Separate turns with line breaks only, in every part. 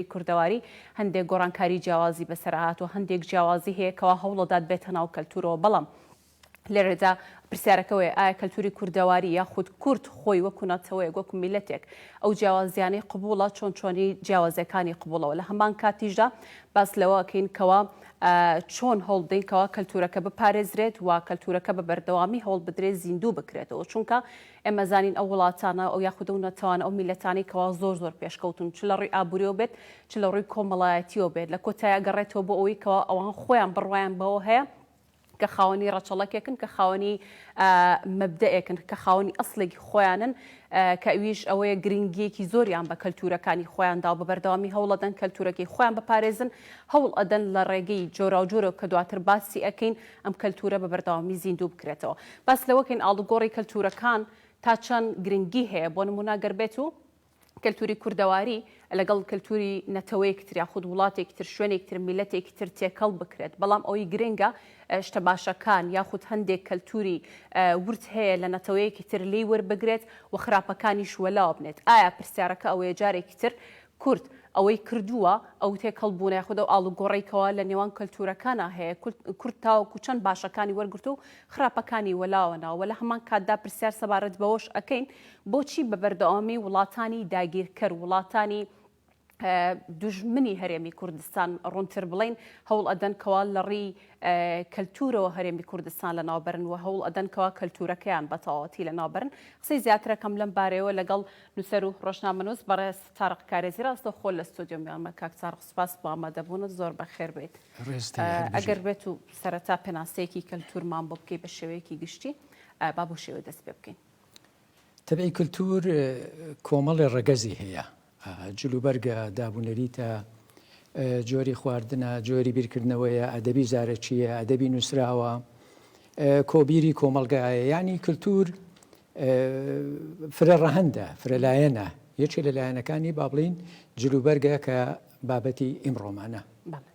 کوردەواری هەندێک گۆڕانکاری جیاوازی بەسەرا هاتووە، هەندێک جیاوازی هەیە کەوا هەوڵەدات بێتە ناو کەلتوورەوە، بەڵام لێرەدا پرسیارەکە ئەوەیە ئایا کەلتووری کوردەواری یاخود کورد خۆی وەکو نەتەوەیەک وەکو میللەتێک ئەو جیاوازییانەی قبووڵە چۆن چۆنی جیاوازییەکانی قبووڵە وە لە هەمان کاتیشدا باس لەوە ئەکەین کەوا چۆن هەوڵ بدەین کەوا کەلتوورەکە بپارێزرێت و کەلتوورەکە بە بەردەوامی هەوڵ بدرێت زیندوو بکرێتەوە چونکە ئێمە زانین ئەو وڵاتانە ئەو یاخود ئەو نەتەوانە ئەو میللەتانەی کەوا زۆر زۆر پێشکەوتوون چ لە ڕووی ئابووریەوە بێت چ لە ڕووی کۆمەڵایەتیەوە بێت لە کۆتای ئەگەڕێتەوە بۆ ئەوەی کەوا ئەوان خۆیان بڕوایان بەوە هەیە کە خاوەنی ڕەچەڵەکێکن کە خاوەنی مەبدەئێکن کە خاوەنی ئەسڵێکی خۆیانن کە ئەویش ئەوەیە گرنگیەکی زۆریان بە کەلتورەکانی خۆیان داو بە بەردەوامی هەوڵەدەن کەلتورەکەی خۆیان بپارێزن هەوڵ ئەدەن لە ڕێگەی جۆراوجۆرە کە دواتر باسی ئەکەین ئەم کەلتوورە بە بەردەوامی زیندوو بکرێتەوە. باس لەوە کەین ئاڵوگۆڕی کەلتوورەکان تا چەند گرنگی هەیە، بۆ نموونە گەر بێتو کەلتووری کوردەواری لەگەڵ کەلتووری نەتەوەیەکی تر یاخود وڵاتێکی تر، شوێنێکی تر، میللەتێکی تر تێکەڵ بکرێت، بەڵام ئەوەی گرنگە شتە باشەکان یاخود هەندێک کەلتووری ورد هەیە لە نەتەوەیەکی تر لێی وەربگرێت و خراپەکانیش وەلاوە بنێت. ئایا پرسیارەکە ئەوەیە جارێکی تر کورد ئەوەی کردووە، ئەو تێکەڵبوونە یاخود ئەو ئاڵوگۆڕەی کەوا لە نێوان کەلتوورەکانا هەیە، کورد تاوەکو چەند باشەکانی وەرگرتووە و خراپەکانی وەلاوە ناوە وە لە هەمان کاتدا پرسیار سەبارەت بەوەش ئەکەین بۆچی بە بەردەوامی وڵاتانی داگیرکەر، وڵاتانی دوژمنی هەرێمی کوردستان ڕوونتر بڵێین هەوڵ ئەدەن کەوا لە ڕیی کەلتوورەوە هەرێمی کوردستان لە ناوبەرن وە هەوڵ ئەدەن کەوا کەلتوورەکەیان بە تەواوەتی لە ناوبەرن قسەی زیاترەکەم لەم بارەیەوە لەگەڵ نوسەر و ڕۆژنامەنوس بەڕێز تارق کارێزی ڕاستەوخۆ لە ستۆدیۆ میوانمە کاک تارق سوپاس بۆ ئامادەبوونت زۆر بەخێر بێیت ئەگەر بێت و سەرەتا پێناسەیەکی کەلتورمان بۆ بکەی بە شێوەیەکی گشتی با بۆ شێوە دەست پێ بکەین تەبعی
کلتور کۆمەڵێ ڕەگەزی هەیە جلوبەرگە دابونەریتە جۆری خواردنە جۆری بیرکردنەوەیە ئەدەبی زارەکیە ئەدەبی نووسراوە کۆبیری کۆمەلگایە ینی کللتور فرە ڕەهەندە، فرە لایەنە، یەکێ لە لایەنەکانی با بڵێین جلوبەرگە کە بابەتی ئیمڕۆمانە. بەڵێ.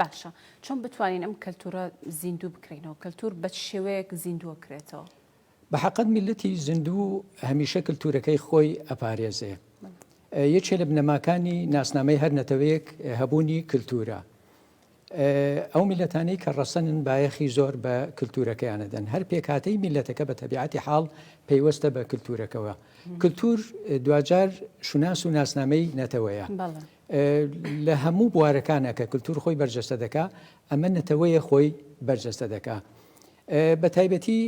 باشە چۆن بتوانین ئەم کەلتوورە زیندوو بکرینەوە؟ کەلتوور بە چ شێوەیەک زیندووە کرێتەوە؟ بە حەقت
میللەتی زیندوو هەمیشە کەلتوورەکەی خۆی ئەپارێزێ. یەکێ لە بنەماکانی ناسنامەی هەر نەتەوەیەک هەبوونی کەلتوورە. ئەو میللەتانەی کە ڕەسەنن بایەخی زۆر بە کلتورەکەیان ئەدەن، هەر پێکهاتەی میللەتەکە بە تەبیعەتی حاڵ پەیوەستە بە کلتورەکەوە. کلتور دواجار شوناس و ناسنامەی نەتەوەیە. لە هەموو بوارەکانا کە کلتور خۆی بەرجەستە دەکا، ئەمە نەتەوەیە خۆی بەرجەستە دەکا. بە تایبەتی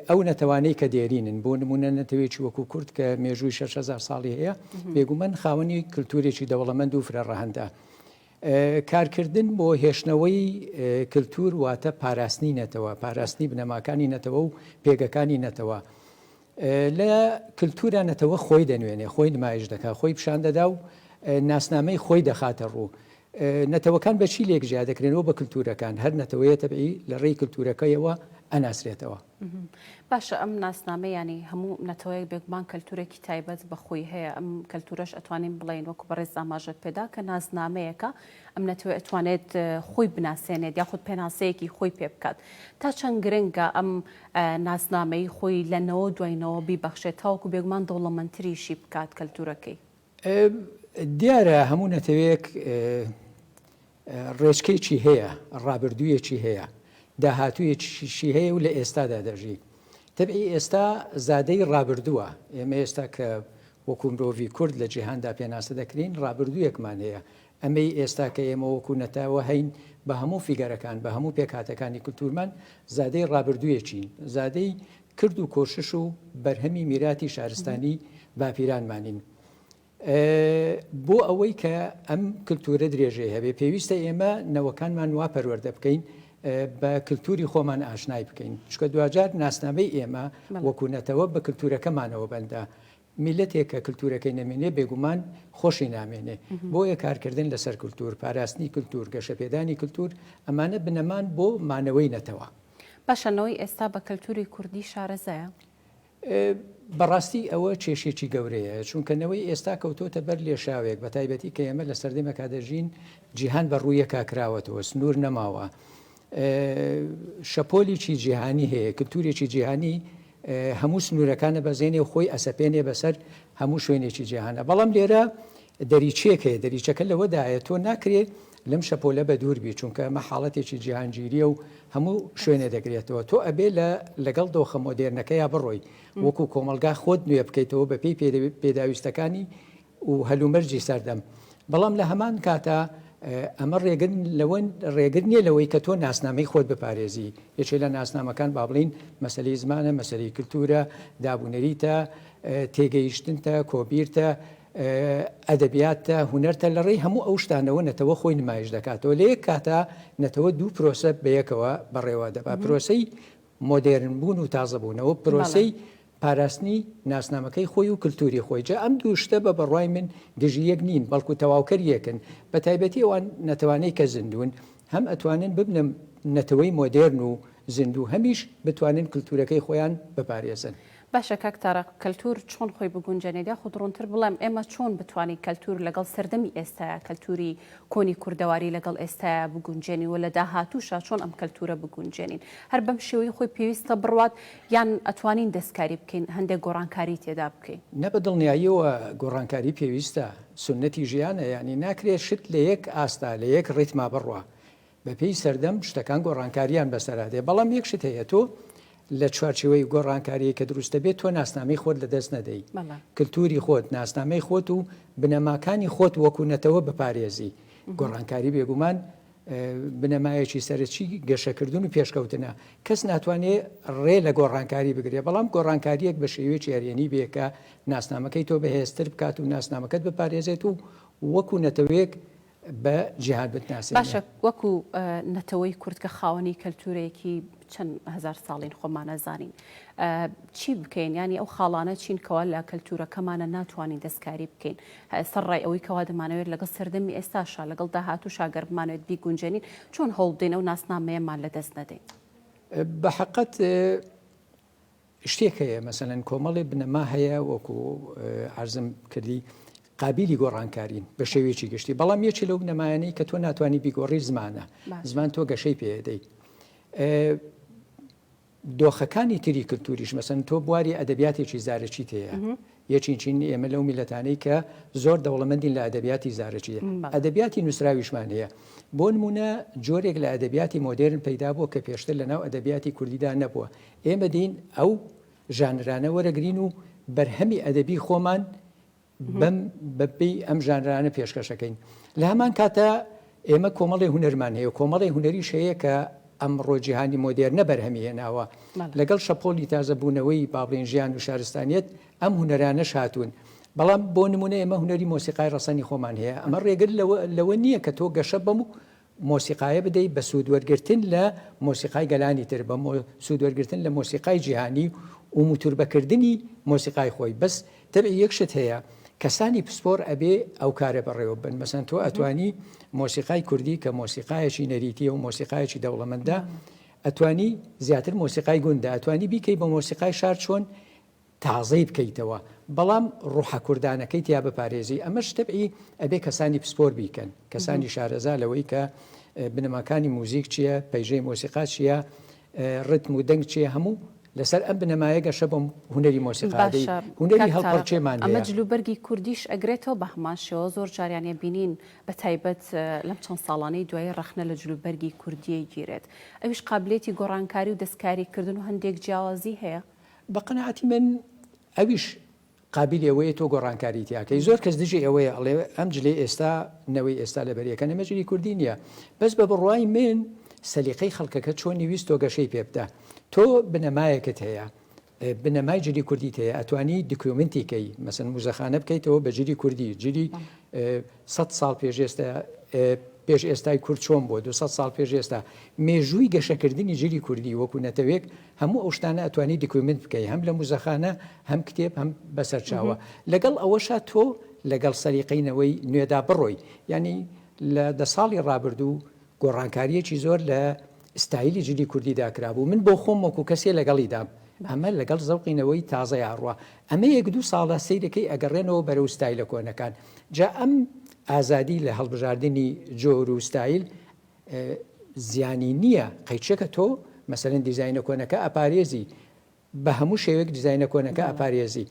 ئەو نەتەوانەی کە دێرینن، بۆ نموونە نەتەوەیەکی وەکوو کورد کە مێژووی شەش هەزار ساڵی هەیە، بێگوومان خاوەنی کلتورێکی دەوڵەمەند و فرەڕەهەندە. کارکردن بۆ هێشتنەوەی کلتور واتە پاراستنی نەتەوە، پاراستنی بنەماکانی نەتەوە و پێگەکانی نەتەوە. لە کلتورا نەتەوە خۆی دەنوێنێ، خۆی نمایش دەکا، خۆی پیشان دەدا و ناسنامەی خۆی دەخاتە ڕوو. نەتەوەکان بە چی لێک جیا دەکرێن؟ وە بە کلتورەکان. هەر نەتەوەیە تەبعی لە ڕێی کلتورەکەیەوە ئەناسرێتەوە. باشە
ئەم ناسنامەیانی هەموو نەتەوەیەک بێگومان کەلتورێکی تایبەت بەخۆی هەیە ئەم کەلتورەش ئەتوانین بڵین وەکو بەڕێز زاماژەت پێدا کە ناسنامەیەەکە ئەم نەتەوە ئەتوانێت خۆی بناسێنێت یاخود پێناسەیەکی خۆی پێ بکات تا چەند گرنگە ئەم ناسنامەی خۆی لەنەوە دوینەوە بیبەخشێت تاوەکو بێگومان دەوڵەمەندتریشی بکات کەلتورەکەی
دیارە هەموو نەتەوەیەک ڕێچکەیەکی هەیە، ڕابردوویەکی هەیە، داهاتوویەکیشی هەیە و لە ئێستادا دەژی. تەبعی ئێستا زادەی ڕابردووە، ئێمە ئێستا کە وەکوو مرۆڤی کورد لە جیهاندا پێناسە دەکرێین، ڕابردوویەکمان هەیە. ئەمەی ئێستا کە ئێمە وەکوو نەتەوە هەین، بە هەموو فیگەرەکان، بە هەموو پێکهاتەکانی کولتوورمان، زادەی ڕابردوویەکین، زادەی کرد و کۆشش و بەرهەمی میراتی شارستانی باپیرانمانین. بۆ ئەوەی کە ئەم کلتورە درێژەی هەبێ پێویستە ئێمە نەوەکانمان وا پەروەردە بکەین بە کللتوری خۆمان ئاشنای بکەین چکە دواجار ناسنامەی ئێمە وەکوونەتەوە بە کللتورەکەمانەوە بەندە میللەتێک کە کلتورەکەی نەمێنێ بێگومان خۆشی نامێنێ، بۆیە کارکردن لەسەر کلتور، پاراستنی کلتور، گەشەپێدانی کلتور ئەمانە بنەمان بۆ مانەوەی نەتەوە. باشە نەوەی
ئێستا بە کلتوری کوردی شارەزایە؟
بەڕاستی ئەوە کێشێکی گەورەیە، چونکە نەوەی ئێستا کەوتۆتە بەر لێشاوێک، بەتایبەتی کە ئێمە لە سەردەمێکا دەژین جیهان بە ڕوویەکا کراوەتەوە، سنور نەماوە، شەپۆلێکی جیهانی هەیە، کلتورێکی جیهانی هەموو سنوورەکان دەبەزێنێ و خۆی ئەسەپێنێ بەسەر هەموو شوێنێکی جیهاندا. بەڵام لێرە دەریچەیەک هەیە، دەریچەکە لەوەدایە تۆ ناکرێ لەم شەپۆلە بەدوور بی، چونکە ئەمە حاڵەتێکی جیهانگیرییە و هەموو شوێنێ دەگرێتەوە. تۆ ئەبێ لە لەگەڵ دۆخە مۆدێرنەکەیا بڕۆی، وەکوو کۆمەڵگا خۆت نوێ بکەیتەوە بەپێی پێداویستەکانی و هەلومەرجی سەردەم، بەڵام لە هەمان کاتا ئەمە ڕێگر لەوە ڕێگر نییە لەوەی کە تۆ ناسنامەی خۆت بپارێزی، یەکێ لە ناسنامەکان با بڵین مەسەلەی زمانە، مەسەلەی کلتوورە، دابونەریتە، تێگەیشتنتە، کۆبیرتە، ئەدەبیاتتە، هونەرتە، لە ڕێی هەموو ئەو شتانەوە نەتەوە خۆی نمایش دەکاتەوە، لە یەک کاتا نەتەوە دوو پرۆسە بەیەکەوە بەڕێوە دەبات، پرۆسەی مۆدێرن بوون و تازە بوونەوە پرۆسەی پاراستنی ناسنامەکەی خۆی و کلتوری خۆی جا ئەم دوو شتە بە بەڕای من دژی یەک نین بەڵکو تەواوکەر یەکن بە تایبەتی ئەوان نەتەوانەی کە زیندوون هەم ئەتوانن ببنە نەتەوەی مۆدێرن و زیندوو هەمیش بتوانن کلتورەکەی خۆیان بپارێزن. باشە کاک تارق
کەلتور چۆن خۆی بگونجێنێت یاخود ڕونتر بڵێم ئێمە چۆن بتوانین کەلتور لەگەڵ سەردەمی ئێستایا کەلتوری کۆنی کوردەواری لەگەڵ ئێستایا بگونجێنین و لە داهاتوشا چۆن ئەم کەلتورە بگونجێنین هەر بەم شێوەی خۆی پێویستە بڕوات یان ئەتوانین دەستکاری بکەین هەندێک گۆڕانکاری تێدا بکەین؟ نە بە دڵنیاییەوە
گۆڕانکاری پێویستە سوننەتی ژیانە یانی ناکرێت شت لە یەک ئاستا لە یەک ڕیتما بڕوا بەپێی سەردەم شتەکان گۆڕانکارییان بەسەرا دێ، بەڵام یەک شت هەیە تۆ لە چوارچێوەی گۆڕانکاریی کە دروست دەبێت تۆ ناسنامەی خۆت لەدەست نەدەی، کلتوری خۆت، ناسنامەی خۆت و بنەماکانی خۆت وەکوو نەتەوە بپارێزی. گۆڕانکاری بێگومان بنەمایەکی سەرەکی گەشەکردن و پێشکەوتنە. کەس ناتوانێ ڕێ لە گۆڕانکاری بگرێ، بەڵام گۆڕانکارییەک بە شێوەیەکی ئەرێنی بێ کە ناسنامەکەی تۆ بەهێزتر بکات و ناسنامەکەت بپارێزێت و وەکوو نەتەوەیەک بە جیهاد بتناسێنێ. باشە وەکو
نەتەوەی کورد کە خاوەنی کەلتورێکی چەند هەزار ساڵین خۆمانە زانین چی بکەین ینی ئەو خاڵانە چین کەوا لە کەلتورەکەمانە ناتوانین دەستکاری بکەین سەر ڕای ئەوەی کەوا دەمانەوێت لەگەڵ سەردەمی ئێستاشا لەگەڵ داهات و شاگەر بمانوێت بیگونجێنین چۆن هەوڵدەین ئەو ناسنامەیەمان لە دەست نەدەین بە
حقت شتێک هەیە مەسەلەن کۆمەڵێ بنەما هەیە وەکو عرزم کردی قابلی گۆڕانکارین بە شێوێکی گشتی بەڵام یەکی لەو بنەمایانەی کە تۆ ناتوانانی بیگۆڕی زمانە زمان تۆ گەشەی پێدەیت دۆخەکانی تری کللتوریش مەسن تۆ بواری ئەدەبیاتێکی زارەکی تەیە یە چین چین ئێمە لەو میلەتانەی کە زۆر دەوڵەمەندین لە ئەدەبیاتی زارەکی ئەدەبیاتی نووسراویشمان هەیە بۆ نمونە جۆرێک لە ئەدەبیاتی مۆدێرن پەیدا بووە کە پێشتر لە ناو ئەدەبیاتی کوردیدا نەبووە ئێمە دین ئەو ژانرانە وەرەگرین و بەرهەمی ئەدەبی خۆمان بەم بەپی ئەم ژانرانە پێشکەشەکەین لە هەمان کاتە ئێمە کۆمەڵێ هونەرمان هەیە و کۆمەڵێ هونەریش هەیە کە ئەمڕۆ جیهانی مۆدێرنە بەرهەمی هێناوە. لەگەڵ شەپۆلی تازەبوونەوەی با بڵێین ژیان و شارستانییەت ئەم هونەرانەش هاتوون. بەڵام بۆ نموونە ئێمە هونەری مۆسیقای ڕەسەنی خۆمان هەیە. ئەمە ڕێگر لەوە لەوە نییە کە تۆ گەشە بەم مۆسیقایە بدەیت بە سوودوەرگرتن لە مۆسیقای گەلانی تر، بە سوودوەرگرتن لە مۆسیقای جیهانی و موتوربەکردنی مۆسیقای خۆی. بەس تر یەک شت هەیە کەسانی پسپۆر ئەبێ ئەو کارە بەڕێوە بن مەسەن تۆ ئەتوانی مۆسیقای کوردی کە مۆسیقایەکی نەریتیە و مۆسیقایەکی دەوڵەمەندە ئەتوانی زیاتر مۆسیقای گوندە ئەتوانی بیکەی بە مۆسیقای شار چۆن تازەی بکەیتەوە بەڵام ڕوحە کوردانەکەی تیا بپارێزی ئەمە شتەبعی ئەبێ کەسانی پسپۆر بیکەن کەسانی شارەزا لەوەی کە بنەماکانی موزیک چییە پەیژەی مۆسیقا چییە ڕیتم و دەنگ چیە هەموو لەسەر ئەم بنەمایە گەشە بۆ هونەری مۆسیقا دەی باشە هونەری کاک تارق هەڵپەڕکێمان ئەمە هەیە. جل و بەرگی
کوردیش ئەگرێتەوە بە هەمان شێوە زۆر جاریان ئەبینین بە تایبەت لەم چەند ساڵانەی دوایی ڕەخنە لە جل و بەرگی کوردی ئەیگیرێت ئەویش قابلیەتی گۆڕانکاری و دەستکاری کردن و هەندێک جیاوازی هەیە. بە قەناعەتی
من ئەویش قابیلی ئەوەیە تۆ گۆڕانکاری تیا کەی زۆر کەس دژی ئەوەیە ئەڵێ ئەم جلەی ئێستا نەوەی ئێستا لە بەریەکە نەمە جلی کوردی نیە بەس بە بڕوای من سەلیقەی خەڵکەکە چۆنی ویست تۆ گەشەی پێ بدە تۆ بنەمایەکت هەیە بنەمای جلی کوردی هەیە ئەتوانی دکومنتی کەی مەسن موزەخانە بکەیتەوە بە جلی کوردی جلی سە ساڵ پێش ئێستا پێش ئێستای کورد چۆن بۆ 200 ساڵ پێش ئێستا مێژووی گەشەکردنی جلی کوردی وەکو نەتەوێک هەموو ئەو شتانە ئەتوانی دکومێنت بکەی هەم لە موزەخانە هەم کتێب هەم بەسەرچاوە لەگەڵ ئەوەشا تۆ لەگەڵ سەریقەی نەوەی نوێدا بڕۆی یعنی لە دە ساڵی ڕابردوو گۆڕانکاریەکی زۆر لە ستایلی جلی کوردی داکرابوو من بۆ خۆم وەکو کەسێ لەگەڵیدام ئەمە لەگەڵ زەوقینەوەی تازە یاڕوە ئەمە یەک دوو ساڵە سیرەکەی ئەگەڕێنەوە بەرە و ستایلە کۆنەکان جا ئەم ئازادی لە هەڵبژاردننی جۆر و ستایل زیانی نییە قەیچەکە تۆ مەسەرەن دیزینە کۆنەکە ئەپارێزی بە هەموو شێوێک دیزینە کۆنەکە ئەپارێزی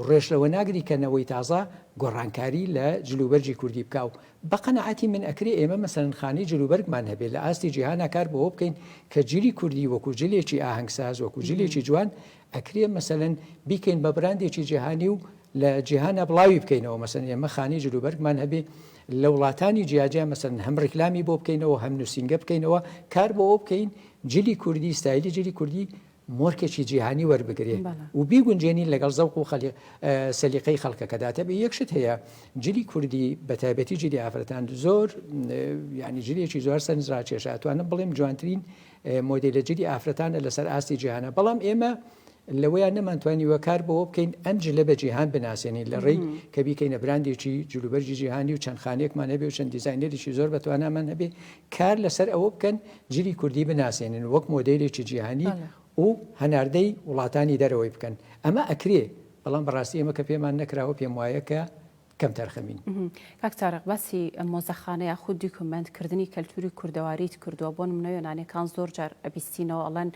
ڕێش لەوە ناگری کە نەوەی تازە گۆڕانکاری لە جلوبەرجی کوردی بکە و بە قەنەعاتی من ئەکری ئێمە مەسەرن خانی جلوبەرگمان هەبێ لە ئاستی جیهانا کار بۆ بکەین کە جلی کوردی وەکو جلێکی ئاهەنگساز وەکو جلێکی جوان ئەکرێ مەسەلەن بیکەین بە براندێکی جیهانی و لە جیهانا بڵاوی بکەینەوە مەسەن ئێمە خانی جلوبەرگمان هەبێ لە وڵاتانی جیاجیا مەسەن هەم ڕیکلامی بۆ بکەینەوە هەم نووسینگە بکەینەوە کار بەوە بکەین جلی کوردی ستایلی جلی کوردی مۆرکێکی جیهانی وەربگرێ و بیگونجێنین لەگەڵ زەوق و خەلی سەلیقەی خەڵکەکەداتە بێ یەکشت هەیە جلی کوردی بە تایبەتی جلی ئافرەتان زۆر ینی جلێکی زۆر سەرنجڕاکێشە توانم بڵێم جوانترین مۆدێلە جلی ئافرەتانە لەسەر ئاستی جیهانا بەڵام ئێمە لەوەیان نەمانتوانیوە کار بەوە بکەین ئەم جلە بە جیهان بناسێنین لە ڕێی کە بیکەینە براندێکی جلوبەرجی جیهانی و چەند خانێکمان هەبێ و چەند دیزینەریی زۆر بەتوانامان هەبێ کار لەسەر ئەوە بکەن جلی کوردی بناسێنن وەک مۆدێلێکی جیهانی و هەناردەی وڵاتانی دەرەوەی بکەن ئەمە ئەکرێ بەڵام بەڕاستی ئێمە کە پێمان نەکراوە پێم وایە کە کەم تەرخەمین. کاک تارق
باسی مۆزەخانە یاخود دیکۆمێنت کردنی کەلتوری کوردەواریت کردوە بۆ نمونە یۆنانیەکان زۆر جار ئەبیستینەوە ئەڵێن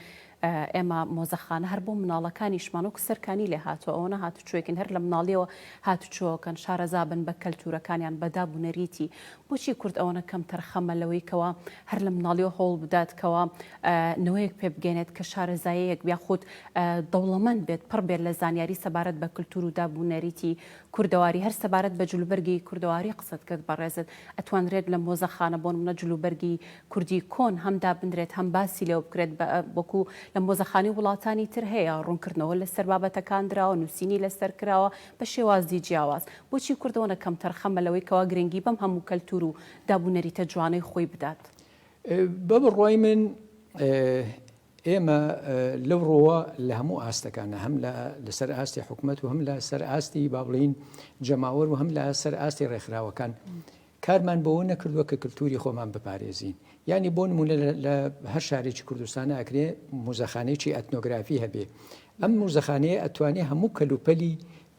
ئێمە مۆزەخانە هەر بۆ مناڵەکانیشمان وەکو سەرکانی لێ هاتوە ئەوەنە هاتوچۆێکن هەر لە مناڵیەوە هاتوچۆکەن شارەزابن بە کەلتورەکانیان بە داب و نەریتی بۆچی کورد ئەوەنە کەم تەرخەمە لەوەی کەوا هەر لە مناڵیەوە هەوڵ بدات کەوا نەوەیەک پێ بگەێنێت کە شارەزایەک بیاخود دەوڵەمەند بێت پڕ بێت لە زانیاری سەبارەت بە کللتور و داب و نەریتی کوردەواری هەر سەبارەت بە جلوبەرگی کوردەواری قسەت کرد بەڕێزت ئەتوانرێت لە مۆزەخانە بۆنمونە جلوبەرگی کوردی کۆن هەم دابنرێت هەم باسی لێوە بکرێت بە وەکو لە مۆزەخانی وڵاتانی تر هەیە ڕونکردنەوە لەسەر بابەتەکان دراوە نوسینی لەسەر کراوە بە شێوازی جیاواز بۆچی کوردەوەنە کەم تەرخەمە لەوەی کەوا گرنگی بەم هەموو کەلتور و دابونەریتە جوانەی خۆی بدات؟ بە
بڕوای من ئێمە لەو ڕۆوە لە هەموو ئاستەکانە هەم لە سەر ئاستی حکومەت و هەم لە سەر ئاستی بابلین جەماوەر و هەم لە سەر ئاستی ڕێکخراوەکان کارمان بەوە نەکردووە کە کللتوری خۆمان بپارێزین ینی بۆ نمونە لە هەر شارێکی کوردستان ئەکرێ موزەخانێکی ئەتنۆگرافی هەبێ ئەم موزەخانەیە ئەتوانێ هەموو کەلوپەلی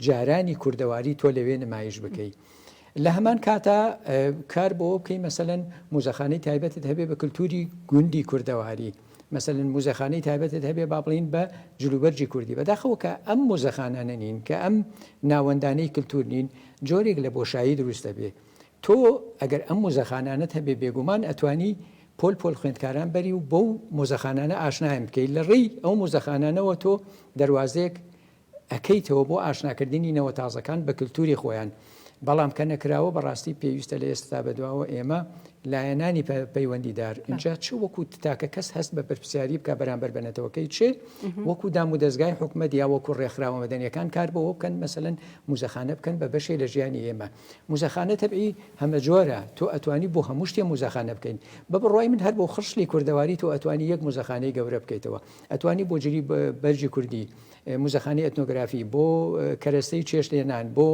جارانی کوردەواری تۆ لەوێ نمایش بکەی لە هەمان کاتا کار بۆ بکەین مەسەەن موزەخانەی تایبەتت هەبێ بە کللتوری گوندی کوردەواری مەسەن موزەخانەی تایبەتت هەبێ با بڵین بە جلوبەرجی کوردی بەداخەوە کە ئەم موزەخانانە نین کە ئەم ناوەندانەی کللتور نین جۆرێک لە بۆشایی دروستە بێ تۆ ئەگەر ئەم موزەخانانت هەبێ بێگومان ئەتوانی پۆل پۆل خوێندکاران بەری و بەو موزەخانانە ئاشنایم بکەیت لە ڕێی ئەو موزەخانانەوە تۆ دەواازێک ئەکەیتەوە بۆ ئاشناکردنی نەوە تازەکان بە کلتوری خۆیان بەڵام کە نەکراوە بەڕاستی پێویستە لە ئێستە تا بەدواوە ئێمە لایەنانی پەیوەندی دار ئینجا چ وەکو تاکە کەس هەست بە پرسیاری بکە بەرامبەر بە نەتەوەکەی چ وەکو دام و دەستگای حکومە دیا وەکو ڕێکخراوە مەدەنیەکان کار بەوە بکەن مەسەن موزەخانە بکەن بە بەشێ لە ژیانی ئێمە موزەخانە تەبعی هەمە جۆرە تۆ ئەتوانی بۆ هەموو شتێ موزەخانە بکەین بە بڕای من هەر بۆ خشلی کوردەواری تۆ ئەتوانی یەک موزەخانەی گەورە بکەیتەوە ئەتوانی بۆ جلی بەرجی کوردی موزەخانەی ئەتنۆگرافی، بۆ کەرەستەی چێشتلێنان، بۆ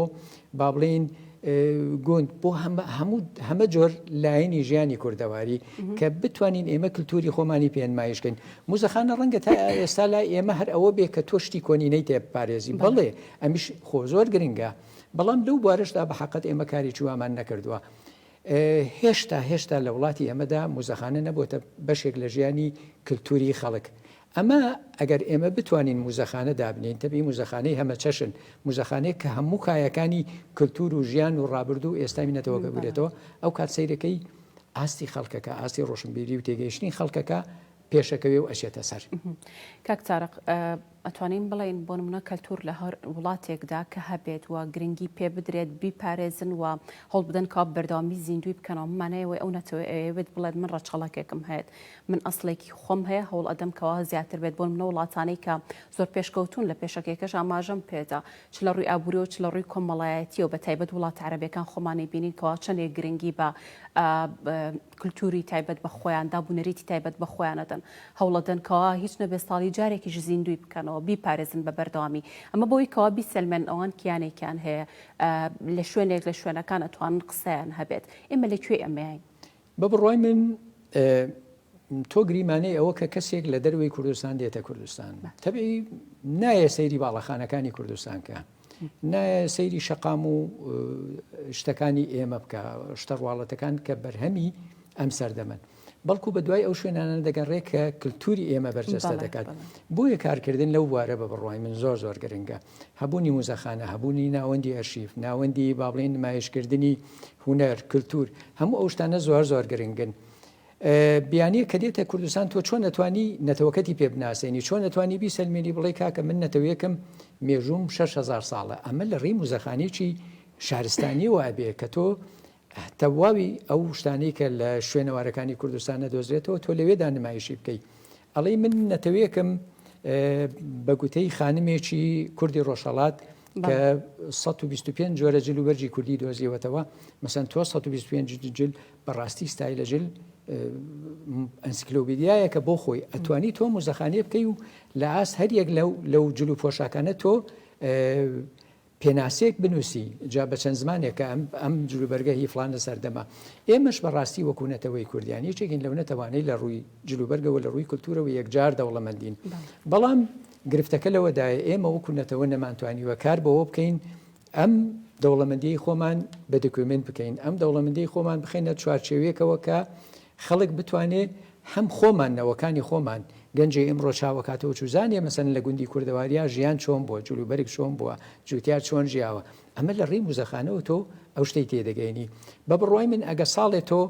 با بڵێین گوند، بۆ هەموو هەمە جۆر لایەنی ژیانی کوردەواری کە بتوانین ئێمە کللتوری خۆمانی پێنمایشکەین موزەخانە ڕەنگە تا ئێستا لای ئێمە هەر ئەوە بێ کە تۆشتی کۆنینەی تێپارێزی بەڵێ ئەمیش خۆ زۆر گرنگە بەڵام لەو بوارشدا بە حقت ئێمە کاری چوامان نەکردووە. هێشتا هێشتا لە وڵاتی ئەمەدا موزەخانە نەبووتە بەشێک لە ژیانی کللتوری خەڵک ئەمە ئەگەر ئێمە بتوانین موزەخانە دابنێین، تەبعی موزەخانەی هەمەچەشن، موزەخانەیەک کە هەموو کایەکانی کلتور و ژیان و ڕابردوو و ئێستای نەتەوەکە بگرێتەوە، ئەو کات سەیرەکەی ئاستی خەڵکەکە، ئاستی ڕۆشنبیری و تێگەیشتنی خەڵکەکە پێشەکەوێ و ئەچێتە سەر. کاک تارق،
ئەتوانین بڵێین بۆ نمونە کلتور لە هەر وڵاتێکدا کە هەبێت و گرنگی پێ بدرێت، بیپارێزن و هەوڵ بدەن کە بەردەوامی زیندووی بکەنەوە، بەمانای ئەوەی ئەو نەتەوەیە ئەیەوێت بڵێت من ڕەچەڵەکێکم هەیەت، من ئەسڵێکی خۆم هەیە هەوڵ ئەدەم کەوا زیاتر بێت بۆنمونە وڵاتانەی کە زۆر پێشکەوتون لە پێشەکێکەش ئاماژەم پێدا چ لە ڕوی ئابوریەوە چ لە ڕوی کۆمەڵایەتیەوە بە تایبەت وڵاتە عەرەبیەکان خۆمانی بینین کەوا چەندێک گرنگی بە کلتوری تایبەت بە خۆیان دابو نەریتی تایبەت بە خۆیان ئەدەن هەوڵ ئەدەن کەوا هیچ نەبێت ساڵی جارێکیش زیندوی بکەنەوە بیپارێزن بە بەردەوامی ئەمە بەوەی کەوا بیسەلمێنن ئەوان کیانێکیان هەیە لە شوێنێک لە شوێنەکان ئەتوانن قسەیان هەبێت ئێمە لە کوێ ئەمەین بە بڕوای
من تۆ گریمانەی ئەوە کە کەسێک لە دەروی کوردستان دێتە کوردستان تەبی نایە سەیری باڵەخانەکانی کوردستان کە نایە سەیری شەقام و شتەکانی ئێمە بکە شتەڕواڵەتەکان کە بەرهەمی ئەم سەردەمن بەڵکو بە دوای ئەو شوێنانە دەگەڕێ کە کللتوری ئێمە بەرجەستە دەکات بۆیە کارکردن لەو بوارە بە بڕوای من زۆر زۆر گرنگە هەبوونی موزەخانە، هەبوونی ناوەندی ئەرشیف، ناوەندی با بڵێین نمایشکردنی هونەر، کلتور، هەموو ئەو شتانە زۆر زۆر گرنگن. بیانییە کە دێتە کوردستان تۆ چۆن ئەتوانی نەتەوەکەتی پێ بناسێنی چۆن ئەتوانی بیسەلمێنی بڵێ کاکە من نەتەوەیەکم مێژووم شەش هەزار ساڵە ئەمە لە ڕێی موزەخانەیەکی شارستانیەوە ئەبێ کە تۆ تەواوی ئەو شتانەی کە لە شوێنەوارەکانی کوردستان نەدۆزرێتەوە تۆ لەوێدا نمایشی بکەی ئەڵی من نەتەوەیەکم بە گوتەی خانمێکی کوردی ڕۆژهڵات کە 125 جۆرە جل و بەرجی کوردی دۆزیەوەتەوە مەسەن تۆ 125 جل بەڕاستی ستای لە جل ئەنسکلۆبیدیایە کە بۆ خۆی ئەتوانی تۆ مزەخانێ بکەی و لە ئاست هەریەک لەو لەو جل و پۆشاکانە تۆ پێناسەیەک بنووسی جا بە چەند زمانێکە ئەم ئەم جلوبەرگە هی فڵانە سەردەمە. ئێمەش بە ڕاستی وەکوو نەتەوەی کوردیان یەکێکین لەو نەتەوانەی لە ڕووی جلوبەرگەوە لە ڕووی کولتوورەوە یەکجار دەوڵەمەندین. بەڵام گرفتەکە لەوەدایە ئێمە وەکوو نەتەوە نەمانتوانیوە کار بەوە بکەین ئەم دەوڵەمەندییەی خۆمان بە دکیۆمێنت بکەین، ئەم دەوڵەمەندیی خۆمان بخەینە چوارچێوێکەوە کە خەڵک بتوانێ هەم خۆمان نەوەکانی خۆمان گەنجی ئیمڕۆ چاوەکاتەوە چوزانێ مەسەن لە گوندی کوردەواریا ژیان چۆن بووە جلوبەرگ چۆن بووە جوتیار چۆن ژیاوە ئەمە لە ڕێی موزەخانەوە تۆ ئەو شتەی تێدەگەینی بە بڕوای من ئەگە ساڵێ تۆ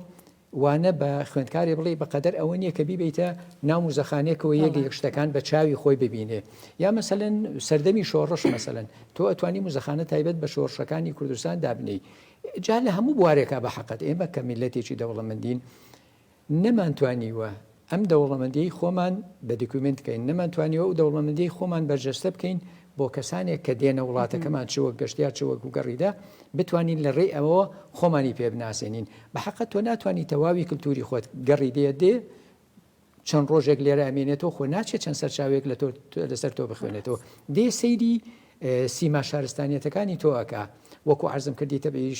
وانە بە خوێندکارێ بڵێ بەقەدەر ئەوە نییە کە بیبیتە ناو مزەخانێکەوە یەک یەک شتەکان بە چاوی خۆی ببینێ یا مەسەن سەردەمی شۆڕش مەسەن تۆ ئەتوانی مزەخانە تایبەت بە شۆڕشەکانی کوردستان دابنی جا لە هەموو بوارێکا بە حەقت ئێمە کە میللەتێکی دەوڵەمەندین نەمانتوانیوە ئەم دەوڵەمەندیەی خۆمان بە دیکومێنت بکەین، نەمانتوانیوە ئەو دەوڵەمەندیەی خۆمان بەرجەستە بکەین بۆ کەسانێک کە دێنە وڵاتەکەمان چ وەک گەشتیار چ وەک گوگەڕیدە بتوانین لە ڕێی ئەوەوە خۆمانی پێ بناسێنین، بە حەقت تۆ ناتوانی تەواوی کلتوری خۆت گەڕیدەیە دێ، چەند ڕۆژێک لێرە ئەمێنێتەوە خۆ ناچێت چەند سەرچاوێک لە تۆ لەسەر تۆ بخوێنێتەوە دێ سەیری سیما شارستانیەتەکانی تۆ ئەکا وەکو عرضم کردی تەبی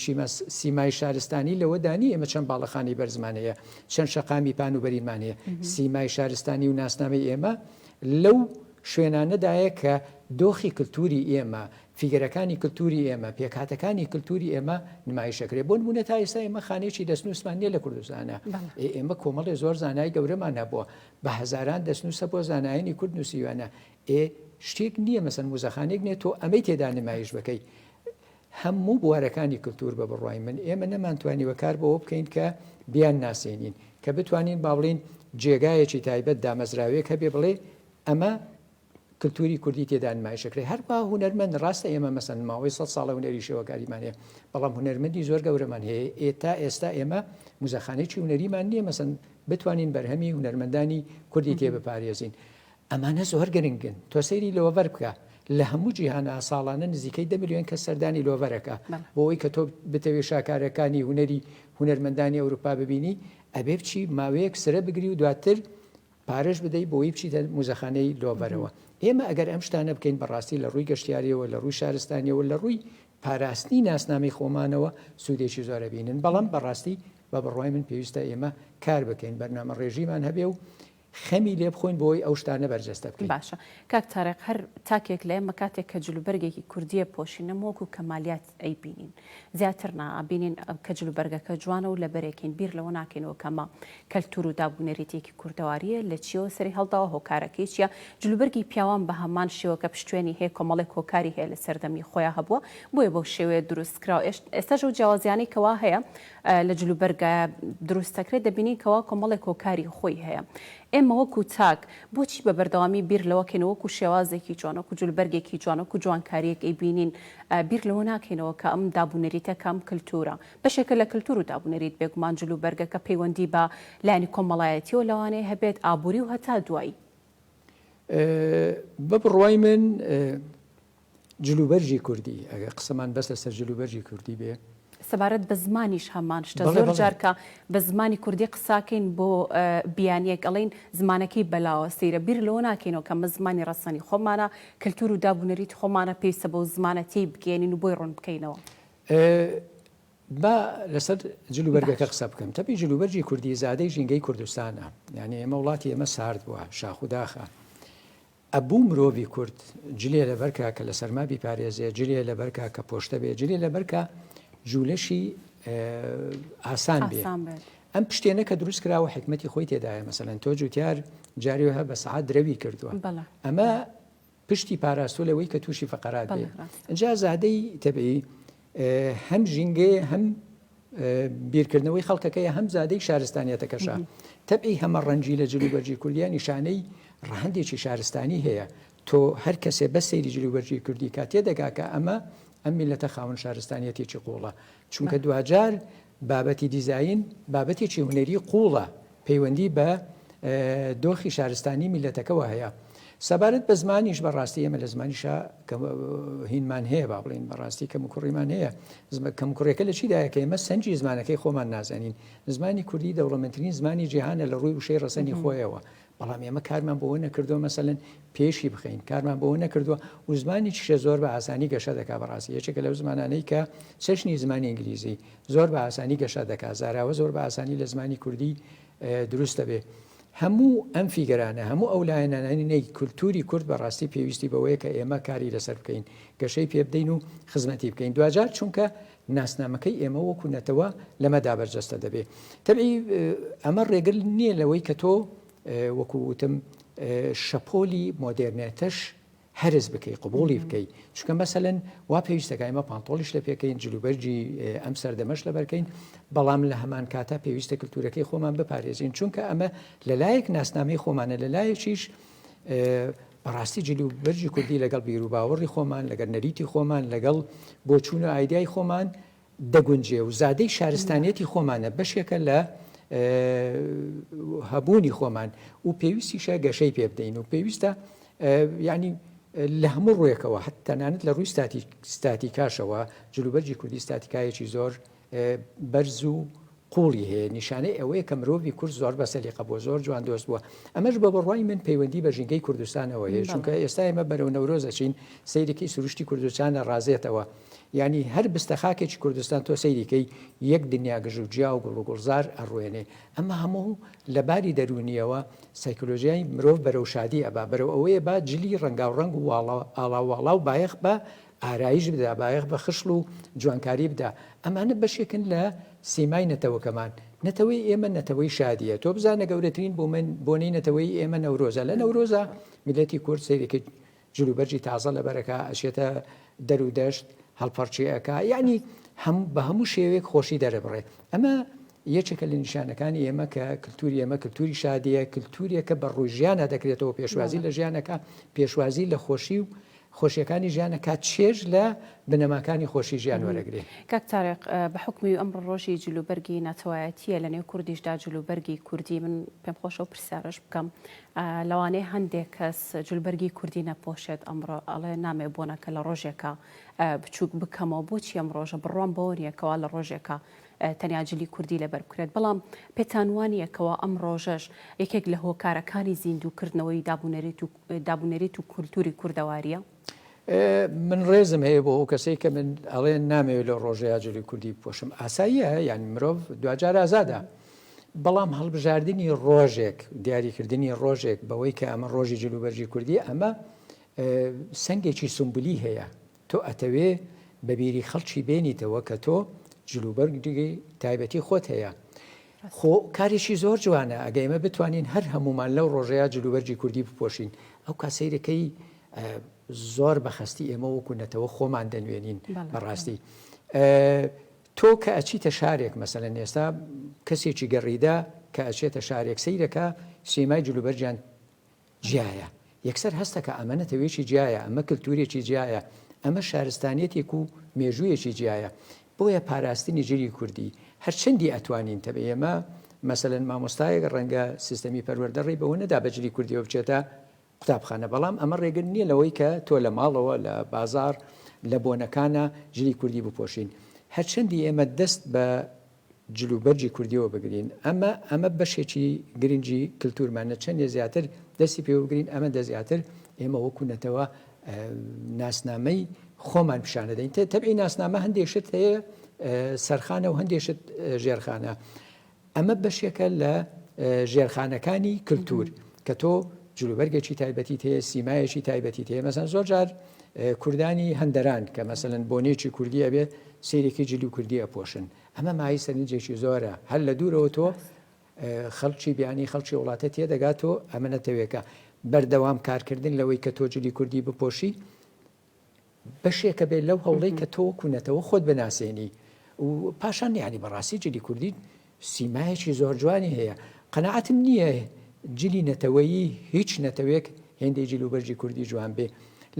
سیمای شارستانی لەوەدانی ئێمە چەند باڵەخانی بەرزمانەیە چەند شەقامی پان و بەریمانەیە سیمای شارستانی و ناسنامەی ئێمە لەو شوێنانەدایە کە دۆخی کللتوری ئێمە فیگەرەکانی کلتوری ئێمە، پێکهاتەکانی کلتوری ئێمە نمایش دەکرێت. بۆ نموونە تا ئێستا ئێمە خانەیەکی دەستنووسمان نیە لە کوردستانا. ئێمە کۆمەڵێ زۆر زانای گەورەمان هەبووە. بە هەزاران دەستنووس هەبووە زانایانی کورد نووسیویانە. ئێ شتێک نییە مەسەن موزەخانەیەک نیە تۆ ئەمەی تێدا نمایش بکەی. هەموو بوارەکانی کلتور بە بڕوای من ئێمە نەمانتوانیوە کار بەوە بکەین کە بیان ناسێنین کە بتوانین با بڵین جێگایەکی تایبەت دامەزراوێک هەبێ بڵێ ئەمە کلتوری کوردی تێدا نمایش ئەکرێ هەروا هونەرمەند ڕاستە ئێمە مەسەن ماوەی سەد ساڵە هونەری شێوەکاریمان هەیە بەڵام هونەرمەندی زۆر گەورەمان هەیە ئێ تا ئێستا ئێمە موزەخانەیەکی هونەریمان نییە مەسەن بتوانین بەرهەمی هونەرمەندانی کوردی تێ بپارێزین ئەمانە زۆر گرنگن تۆ سەیری لۆڤەر بکە لە هەموو جیهانە ساڵانە نزیکەی دە میلیۆن کە سەردانی لۆڤەرەکە بۆ ئەوی کە تۆ بتەوێ شاکارەکانی هونەری هونەرمەندانی ئەوروپا ببینی ئەبێ بچی ماوەیەک سرە بگری و دواتر پارەش بدەی بۆی بچیتە موزەخانەی لۆڤەرەوە ئێمە ئەگەر ئەم شتانە بکەین بەڕاستی لە ڕووی گەشتیاریەوە لە ڕووی شارستانیەوە لە ڕووی پاراستنی ناسنامەی خۆمانەوە سوودێکی زۆرە بینن بەڵام بەڕاستی بە بڕوای من پێویستە ئێمە کار بکەین بەرنامە ڕێژیمان هەبێ و خەمی لێ بخۆین بۆی ئەو شتانە بەرجەستە بکەین باشە کاک تارق
هەر تاکێک لە ئێمە کاتێک کە جلوبەرگێکی کوردیە پۆشینە مۆک و کەمالیات ئەیبینین زیاتر نا ئەبینین کە جل و بەرگەکە جوانە و لەبەرێکین بیر لەوە ناکەینەوە کەمە کەلتور و داب و نەریتێکی کوردەواریە لە چیەوە سەری هەڵداوە هۆکارەکەی چیە جلوبەرگی پیاوان بە هەمان شێوە کە پشتوێنی هەیە کۆمەڵێک هۆکاری هەیە لە سەردەمی خۆیان هەبووە بۆیە بەو شێوەیە دروست کراوە ئێستاش ئەو جیاوازیانەی کەوا هەیە لە جلوبەرگایە دروستەکرێت دەبینین کەوا کۆمەڵێک هۆکاری خۆی هەیە ئێمە وەکو تاک بۆچی بە بەردەوامی بیر لەوەکەینەوە وەکو شێوازێکی جوان، وەکو جولبەرگێکی جوان، وەکو جوانکارییەک ئەیبینین، بیر لەوە ناکەینەوە کە ئەم داب و نەریتە کە ئەم کلتورە بەشێکە لە کلتور و داب و نەریت، بێگومان جل و بەرگەکە پەیوەندی بە لایەنی کۆمەڵایەتییەوە لەوانەیە هەبێت، ئابووری و هەتا دوایی.
بە بڕوای من جلوبەرگی کوردی، ئەگەر قسەمان بەس لەسەر جلوبەرگی کوردی بێ. سەبارەت بە
زمانیش هەمان شتە، زۆر جار کە بە زمانی کوردی قساکەین بۆ بیانییەک ئەڵێین زمانەکەی بەلاوە سەیرە، بیر لەوە ناکەینەوە کە ئەمە زمانی ڕەسەنی خۆمانە، کەلتوور و داب و نەریتی خۆمانە پێویستە بەو زمانە تێی بگەیەنین و بۆی ڕوون بکەینەوە.
با لەسەر جلوبەرگەکە قسە بکەم، تەپی جلوبەرگی کوردی زادەی ژینگەی کوردستانە، یانی ئێمە وڵاتی ئێمە سارد بووە، شاخ و داخە. ئەبوو مرۆڤی کورد جلێ لەبەرکا کە لە سەرما بیپارێزێ، جلێ لەبەرکا کە پۆشتە بێ، جلێ لەبەرکا جوولەشی ئاسان بێ. ئاسان بێت. ئەم پشتێنە کە دروست کراوە حیکمەتی خۆی تێدایە، مەسەلەن تۆ جووتیار جارێ وەها بە سەعات درەوی کردووە. بەڵێ. ئەمە پشتی پاراستووە لەوەی کە تووشی فەقەرات بێ. بەڵێ ڕاستە. ئینجا زادەی تەبیعی، هەم ژینگەیە هەم بیرکردنەوەی خەڵکەکەی هەم زادەی شارستانیەتەکەشە تەبعی هەمە ڕەنجی لە جلوبەرجی کوردیا نیشانەی ڕەهندێکی شارستانی هەیە تۆ هەر کەسێ بە سەیری جلوبەرجی کوردی کا تێدەگا کە ئەمە ئەم میلەتە خاون شارستانیەتێکی قوڵە چونکە دواجار بابەتی دیزاین بابەتێکی هونەری قووڵە، پەیوەندی بە دۆخی شارستانی میللەتەکەوە هەیە. سەبارەت بە زمانیش بە ڕاستی ئێمە لە زمانیشا کەم و هینمان هەیە با بڵێین بە ڕاستی کەم و کوڕیمان هەیە. کەم و کوڕیەکە لە چیدایە کە ئێمە سەنجی زمانەکەی خۆمان نازانین. زمانی کوردی دەوڵەمەندترین زمانی جیهانە لە ڕووی وشەی ڕەسەنی خۆیەوە. بەڵام ئێمە کارمان بەوە نەکردووە مەسەلەن پێشی بخەین کارمان بەوە نەکردووە و زمانی چشە زۆر بە ئاسانی گەشە دەکا بەڕاستی یەکێکە لەو زمانانەی کە چەشنی زمانی ئینگلیزی زۆر بە ئاسانی گەشە دەکا زاراوە زۆر بە ئاسانی لە زمانی کوردی دروست دەبێ هەموو ئەم فیگەرانە هەموو ئەو لایەنانانی نەی کولتوری کورد بەڕاستی پێویستی بەوەیە کە ئێمە کاری لەسەر بکەین گەشەی پێبدەین و خزمەتی بکەین دوجار چونکە ناسنامەکەی ئێمە وەکو نەتەوە لەمەدا بەرجەستە دەبێ. تەبعی ئەمە ڕێگر نییە لەوەی کە تۆ وەکو وتم شەپۆلی مۆدێرنێتەش هەرس بکەی قوبوڵی بکەی چونکە مەسەن وا پێویستەکە ئێمە پانتۆڵیش لە پێکەین جلوبەرجی ئەم سەردەمەش لە بەرکەین بەڵام لە هەمان کاتە پێویستە کللتورەکەی خۆمان بپارێزین چونکە ئەمە لەلایەک ناسنامەی خۆمانە لەلایەکیش بەڕاستی جل و بەرگی کوردی لەگەڵ بیروباوەڕی خۆمان، لەگەڵ نەریتی خۆمان، لەگەڵ بۆچوون و ئایدیای خۆمان دەگونجێ و زادەی شارستانیەتی خۆمانە، بەشێکە لە هەبوونی خۆمان و پێویستیشە گەشەی پێ بدەین و پێویستە یعنی لە هەموو ڕوێکەوە هەت تەنانەت لە ڕووی ستاتیکاشەوە جلوبەرجی کوردی ستاتیکایەکی زۆر بەرز و قوڵی هەیە نیشانەی ئەوەیە کە مرۆڤی کورد زۆر بە سەلیقە بووە زۆر جوان دۆست بووە ئەمەش بە بڕوای من پەیوەندی بە ژینگەی کوردستانەوە هەیە چونکە ئێستا ئێمە بەرەو نەورۆز دەچین سەیرێکی سروشتی کوردستان ئەڕازێتەوە یعنی هەر بستە خاکێکی کوردستان تۆ سەیریکەی یەک دنیا گژ و جیا و گوڵ و گوڵزار ئەڕوێنێ ئەمە هەموو لە باری دەرونیەوە سایکلۆژیای مرۆڤ بەرەو شادی ئەبا بەرەو ئەوەیە با جلی ڕەنگاو ڕەنگ و واڵە ئاڵاواڵا و بایەخ بە ئارایش بدا، بایەخ بە خشڵ و جوانکاری بدا، ئەمانە بەشێکن لە سیمای نەتەوەکەمان، نەتەوەی ئێمە نەتەوەی شادییە، تۆ بزانە گەورەترین بۆنەی نەتەوەی ئێمە نەورۆزە، لە نەورۆزا میللەتی کورد سەیرێکی جلوبەرگی تازە لەبەر ئەکا، ئەچێتە دەر و دەشت هەڵپەڕکێ ئەکا، یەعنی بە هەموو شێوەیەک خۆشی دەرەبڕێ، ئەمە یەکێکە لە نیشانەکانی ئێمە کە کللتوری ئێمە کللتوری شادەیە، کللتورێکە بە ڕووی ژیانە دەکرێتەوە پێشوازی لە ژیانەکە، پێشوازی لە خۆشی و خۆشیەکانی ژیانە کا چێژ لە بنەماکانی خۆشی ژیان وەرەگرێ. کاک تارق
بە حوکمی ئەمڕۆ ڕۆژی جل و بەرگی ناتەوایەتیە لە نێو کوردیشدا جل و بەرگی کوردی من پێم خۆشە و پرسیارش بکەم لەوانەیە هەندێک کەس جل بەرگی کوردی نەپۆشێت ئەمڕۆ ئەڵێ نامێ بۆنە کە لە ڕۆژێکە بچووک بکەمەوە بۆچی ئەم ڕۆژە بڕوام بەوە نیە کەوا لە ڕۆژێکە تەنیا جلی کوردی لەبەر بکرێت بەڵام پێتانوانیەکەوە ئەم ڕۆژەش یەکێک لە هۆکارەکانی زیندووکردنەوەی دابوونەریت و دابونەریت و کولتوری کوردەواریە.
من ڕێزم هەیە بۆ ئەو کەسەی کە من ئەڵێن نامەوێت لەو ڕۆژەی ئاجۆری کوردی بپۆشم ئاساییە یان مرۆڤ دواجار ئازادە بەڵام هەڵبژاردننی ڕۆژێک دیاریکردنی ڕۆژێک بەوەی کە ئەمە ڕۆژی جلوبەرجی کوردی ئەمە سنگێکی سمبولی هەیە تۆ ئەتەوێ بە بیری خەڵکی بێنیتەوە کە تۆ جل و بەرگی تایبەتی خۆت هەیە. خۆ کارێکی زۆر جوانە ئەگە ئێمە بتوانین هەر هەموومان لەو ڕۆژەیە جل و بەرگی کوردی بپۆشین ئەو کا سەیرەکەی زۆر بە خەستی ئێمە وەکو نەتەوە خۆمان دەنوێنین بەڕاستی. تۆ کە ئەچیتە شارێک مەسەلەن ئێستا کەسێکی گەڕیدا کە ئەچێتە شارێک سەیرەکە سیمای جلوبەرجان جیایە، یەکسەر هەستە کە ئەمە نەتەوێکی جیایە، ئەمە کلتورێکی جیایە، ئەمە شارستانیەتێک و مێژوویەکی جیایە، بۆیە پاراستنی جلی کوردی هەرچەندی ئەتوانین تەبێ ئێمە مەسەلەن مامۆستایەک ڕەنگە سیستەمی پەروەردە ڕێی بەوە نەدا بە جلی کوردیەوە بچێتە قوتابخانە بەڵام ئەمە ڕێگر نیە لەوەی کە تۆ لە ماڵەوە لە بازاڕ لە بۆنەکانا جلی کوردی بپۆشین هەرچەندی ئێمە دەست بە جلوبەرگی کوردیەوە بگرین ئەمە ئەمە بەشێکی گرنگی کلتورمانە چەندێ زیاتر دەستی پێوە بگرین ئەمە دە زیاتر ئێمە وەکو نەتەوە ناسنامەی خۆمان پیشانە دەین تێ تەبعی ناسنامە هەندێک شت هەیە سەرخانە و هەندێک شت ژێرخانە ئەمە بەشێکە لە ژێرخانەکانی کللتور کە تۆ جلوبەرگێکی تایبەتی تێ سیمایەکی تایبەتی تێ مەسەن زۆر جار کوردانی هەندەران کە مەسەن بۆنێکی کوردیە بێت سەیرێکی جلی و کوردی ئەپۆشن ئەمە مایەی سەرنجێکی زۆرە هەر لە دوورەوە تۆ خەڵکی بیانی خەڵکی وڵاتە تێدەگات تۆ ئەمە نەتەوێکە بەردەوام کارکردن لەوەی کە تۆ جلی کوردی بپۆشی بەشێکە بێت لەو هەوڵەی کە تۆ کوونەتەوە خۆت بناسێنی و پاشان یعنی بەڕاستی جلی کوردی سیمایەکی زۆر جوانی هەیە. قەناعەتم نییە جلی نەتەوەیی هیچ نەتەوێک هێندەی جل و بەرگی کوردی جوان بێ.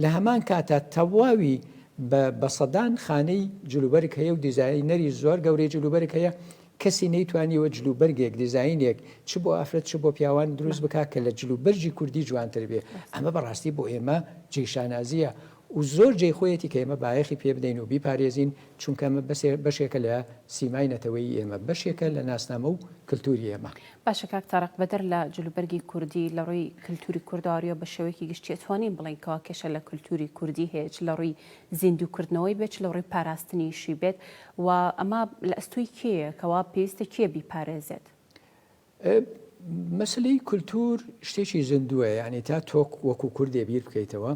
لە هەمان کاتا تەواوی بە بە سەدان خانەی جل و بەرگ هەیە و دیزاینەری زۆر گەورەی جل و بەرگ هەیە، کەسی نەیتوانیوە جل و بەرگێک، دیزاینێک چ بۆ ئافرەت چ بۆ پیاوان دروست بکا کە لە جل و بەرگی کوردی جوانتر بێ. ئەمە بە ڕاستی بۆ ئێمە جێی شانازییە و زۆر جێی خۆیەتی کە ئێمە بایەخی پێ بدەین و بیپارێزین، چونکە ئەمە بەشێکە لە سیمای نەتەوەیی ئێمە، بەشێکە لە ناسنامە و کلتوری ئێمە. باشە کاک تارق،
بەدەر لە جلوبەرگی کوردی، لە ڕووی کلتوری کوردارییەوە بە شێوەیەکی گشتی ئەتوانین بڵێین کەوا کێشە لە کلتوری کوردی هەیە، چ لە ڕووی زیندوو کردنەوەی بێت، چ لە ڕووی پاراستنیشی بێت و ئەمە لە ئەستۆی کێیە کەوا پێویستە کێ بیپارێزێت؟
مەسەلەی کولتوور شتێکی زیندووە یعنی تا تۆک وەکو کوردێ بیر بکەیتەوە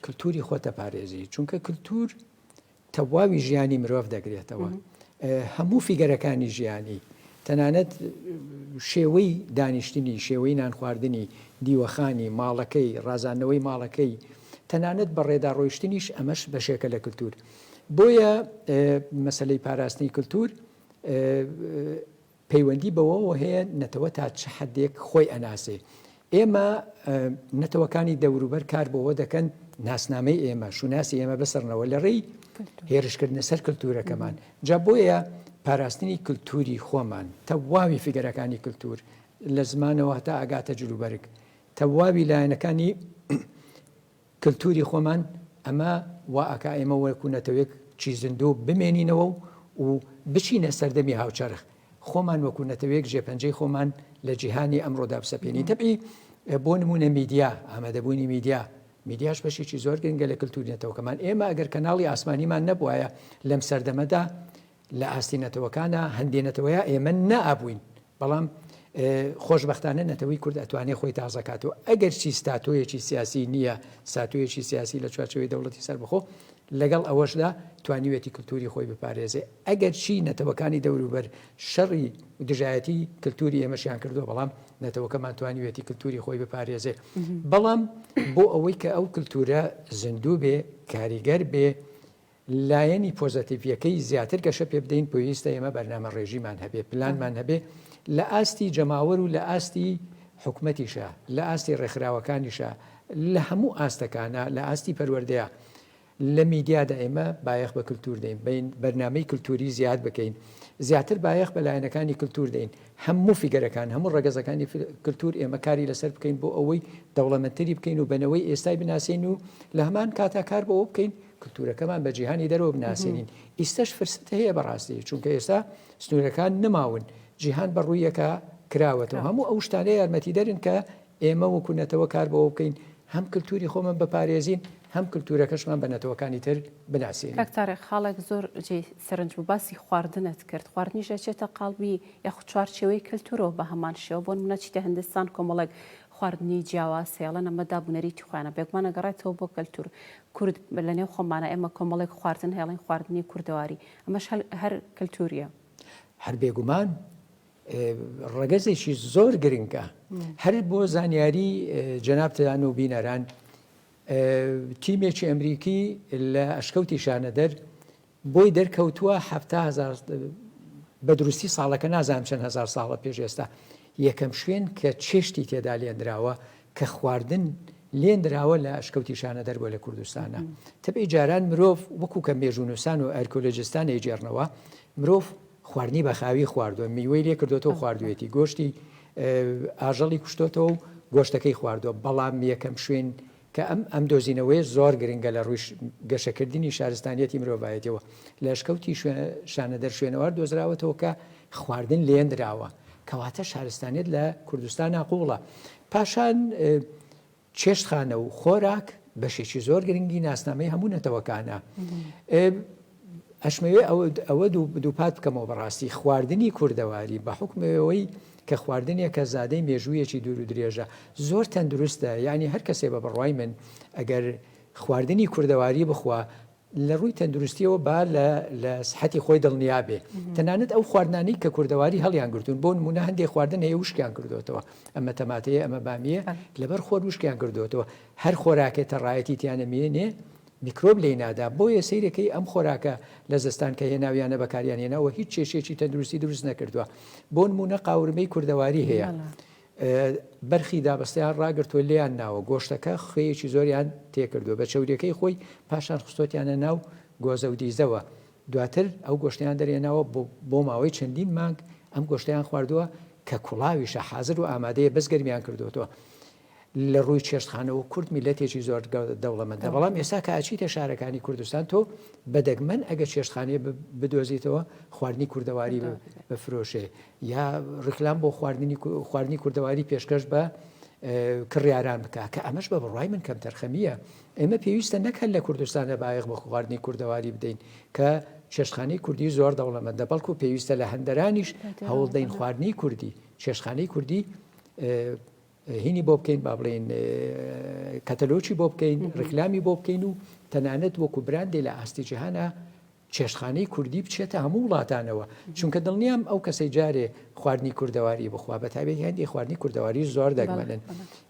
کللتوری خۆتە پارێزی چونکە کللتور تەواوی ژیانی مرۆڤ دەگرێتەوە هەموو فیگەرەکانی ژیانی تەنانەت شێوەی دانیشتنی شێوەی نانخواردنی دیوەخانی ماڵەکەی ڕازانەوەی ماڵەکەی تەنانەت بە ڕێدا ڕۆیشتنیش ئەمەش بەشێکە لە کللتور بۆیە مەسلەی پاراستنی کللتور پەیوەندی بەوەوە هەیە نەتەوە تا چ حەدێک خۆی ئەناسێ. ئێمە نەتەوەکانی دەوروبەر کار بۆوە دەکەن ناسنامەی ئێمە، شوناسی ئێمە بسڕنەوە لە ڕێی هێرشکردنە سەر کلتوورەکەمان. جا بۆیە پاراستنی کلتووری خۆمان، تەواوی فیگەرەکانی کلتوور، لە زمانەوە هەتا ئەگاتە جلوبەرگ، تەواوی لایەنەکانی، کلتوری خۆمان ئەمە وا ئەکا ئێمە وەکو نەتەوەیەک چی زیندوو بمێنینەوە و و بچینە سەردەمی هاوچەرخ خۆمان وەکو نەتەوەیەک ژێپەنجەی خۆمان لە جیهانی ئەمڕۆدا بسەپێنین تەبعی بۆ نمونە میدیا ئامادەبوونی میدیا میدیاش بەشێکی زۆر گرنگە لە کلتوری نەتەوەکەمان ئێمە ئەگەر کەناڵی ئاسمانیمان نەبوایە لەم سەردەمەدا لە ئاستی نەتەوەکانا هەندێ نەتەوەیا ئێمە نا ئابووین بەڵام خۆش بەختانە نەتەوەی کورد ئەتوانێ خۆی تازەکات و ئەگەر چی ستاتۆیەکی سیاسی نییە ساتویەکی سیاسی لە چوارچەوەی دەوڵەتی سەر بخۆ لەگەڵ ئەوەشدا توانیوێتی کللتوری خۆی بپارێزێ ئەگەر چی نەتەوەکانی دەوروبەر شەڕی دژایەتی کللتوری ئێمەشیان کردو بەڵام نەتەوەکەمان توانیوێتی کللتوری خۆی بپارێزێ بەڵام بۆ ئەوەی کە ئەو کللتورە زیندوو بێ کاریگەر بێ لایەنی پۆزەتیڤیەکەی زیاتر گەشە پێ بدەین پێویستە ئێمە بەرنامە ڕێژیمان هەبێ پلانمان هەبێ لە ئاستی جەماوەر و لە ئاستی حکومەتیشە لە ئاستی ڕێکخراوەکانیشە لە هەموو ئاستەکانە لە ئاستی پەروەردەیە لە میدیادا ئێمە بایەخ بە کللتور دەین بین بەرنمەی کللتوری زیاد بکەین زیاتر بایەخ بە لایەنەکانی کللتور دەین هەموو فیگەرەکان هەموو ڕگەزەکانی کللتور ئێمە کاری لەسەر بکەین بۆ ئەوەی دەوڵەمەتری بکەین و بنەوەی ئێستای بناسین و لە هەمان کاتا کار بەوە بکەین کلتورەکەمان بە جیهانی دەرەوە بناسێنین ئیستەش فرسەت هەیە بەڕاستی چونکە ئێستا سنوورەکان نماون جیهان بە ڕوویەکە کراوەتەوە هەموو ئەو شتانە یارمەتی دەرن کە ئێمە وەکو نەتەوە کار بەوە بکەین هەم کللتوری خۆمان بەپارێزین هەم کللتورەکەشمان بە نەتەوەکانی تر بناسیێن کاکتارێک خاڵێک
زۆر جێ سەرنج بوو باسی خواردنت کرد خواردنیش دەچێتە قالبی یاخود چوارچەوەی کللتورەوە بە هەمان شێوە بۆن منە چیتە هندستان کۆمەڵێک خواردنی جیاواز هەیەڵەن ئەمە دابوونەریتی خۆیانە بێگومانە گەڕێتەوە بۆ کەلتور کورد لەنێو خۆمانە ئێمە کۆمەڵێک خواردن هەیڵین خواردنی کوردەواری ئەمەش هەل هەر کەلتوریە. هەر
بێگومان ڕەگەزێکی زۆر گرنگە هەر بۆ زانیاری جەنابتان و بینەران تیمێکی ئەمریکی لە ئەشکەوتی شانەدەر بۆی دەرکەوتووە حەفتا هەزار بە دروستی ساڵەکە نازانم چەند هەزار ساڵە پێش ئێستا یەکەم شوێن کە چێشتی تێدا لێنراوە کە خواردن لێنراوە لە ئەشکەوتی شانەدەر بۆ لە کوردستانە تەبێ جاران مرۆڤ وەکو کە مێژونوسان و ئەرکۆلۆجستان ئەیجێڕنەوە مرۆڤ خواردنی بەخاوی خواردووە میوەی لێ کردوێتەوە خواردوێتی گۆشتی ئاژەڵی کوشتۆتەوە و گۆشتەکەی خواردووە بەڵام یەکەم شوێن کە ئەم ئەم دۆزینەوەیە زۆر گرنگە لە ڕووی گەشەکردنی شارستانیەتی مرۆڤایەتیەوە لە ئەشکەوتی شانەدەر شوێنەوار دۆزراوەتەوە کە خواردن لێنراوە کەواتە شارستانیت لە کوردستانە قوڵە پاشان چێشتخانە و خۆراک بەشێکی زۆر گرنگی ناسنامەی هەموو نەتەوەکانە ئەشمەوێ ئەوە دووپات بکەمەوە بەڕاستی خواردنی کوردەواری بە حوکمی ئەوەی کە خواردنێکە زادەی مێژوویەکی دوور و درێژە زۆر تەندروستە یعنی هەر کەسێ بە بڕوای من ئەگەر خواردنی کوردەواری بخوا لە ڕووی تەندروستیەوە با لە سحەتی خۆی دڵنیابێ تەنانەت ئەو خواردنانی کە کوردەواری هەڵیان گرتوون بۆ نمونە هەندێک خواردن هەیە وشکیان کردوێتەوە ئەمە تەماتەیە ئەمە بامیە لەبەر خۆر وشکیان کردوێتەوە هەر خۆراکێتە ڕایەتی تیانە مێنێ میکرۆب لێی نادا بۆیە سەیرەکەی ئەم خۆراکە لە زستان کە هێناویانە بەکاریان هێناوە هیچ کێشەیەکی تەندروستی دروست نەکردوە بۆنمونە قاورمەی کوردەواری هەیە بەرخی دابەستیان ڕاگرتوە لێیان ناوە گۆشتەکە خوێیەکی زۆریان تێکردوە بە چوریەکەی خۆی پاشان خستۆتیانە ناو گۆزە و دیزەوە دواتر ئەو گۆشتیان دەرێناوە بۆ ماوەی چەندین مانگ ئەم گۆشتیان خواردووە کە کوڵاویشە حازر و ئامادەیە بەس گەرمیان کردوەوە لە ڕووی چێشتخانەوە کورد میلەتێکی زۆر دەوڵەمەندە بەڵام ئێستا کە ئەچیتە شارەکانی کوردستان تۆ بەدەگمەن ئەگە چێشتخانەیە بدۆزیتەوە خواردنی کوردەواری بفرۆشێ یا ڕیکلام بۆ خواردنی خواردنی کوردەواری پێشکەش بە کڕیاران بکە کە ئەمەش بە بڕای من کەم تەرخەمیە ئێمە پێویستە نەکەن لە کوردستانە بایەخ بە خواردنی کوردەواری بدەین کە چێشخانەی کوردی زۆر دەوڵەمەندە بەڵکو پێویستە لە هەندەرانیش هەوڵدەین خواردنی کوردی چێشخانەی کوردی هینی بۆ بکەین با بڵێین کەتەلۆچی بۆ بکەین ڕکلامی بۆ بکەین و تەنانەت وەکو براندێ لە ئاستی جیهانە چێشخانەی کوردی بچێتە هەموو وڵاتانەوە چونکە دڵنیام ئەو کەسی جارێ خواردنی کوردەواری بخوا بە تاوێت هەندی خواردنی کوردەواری زۆر دەگمەنن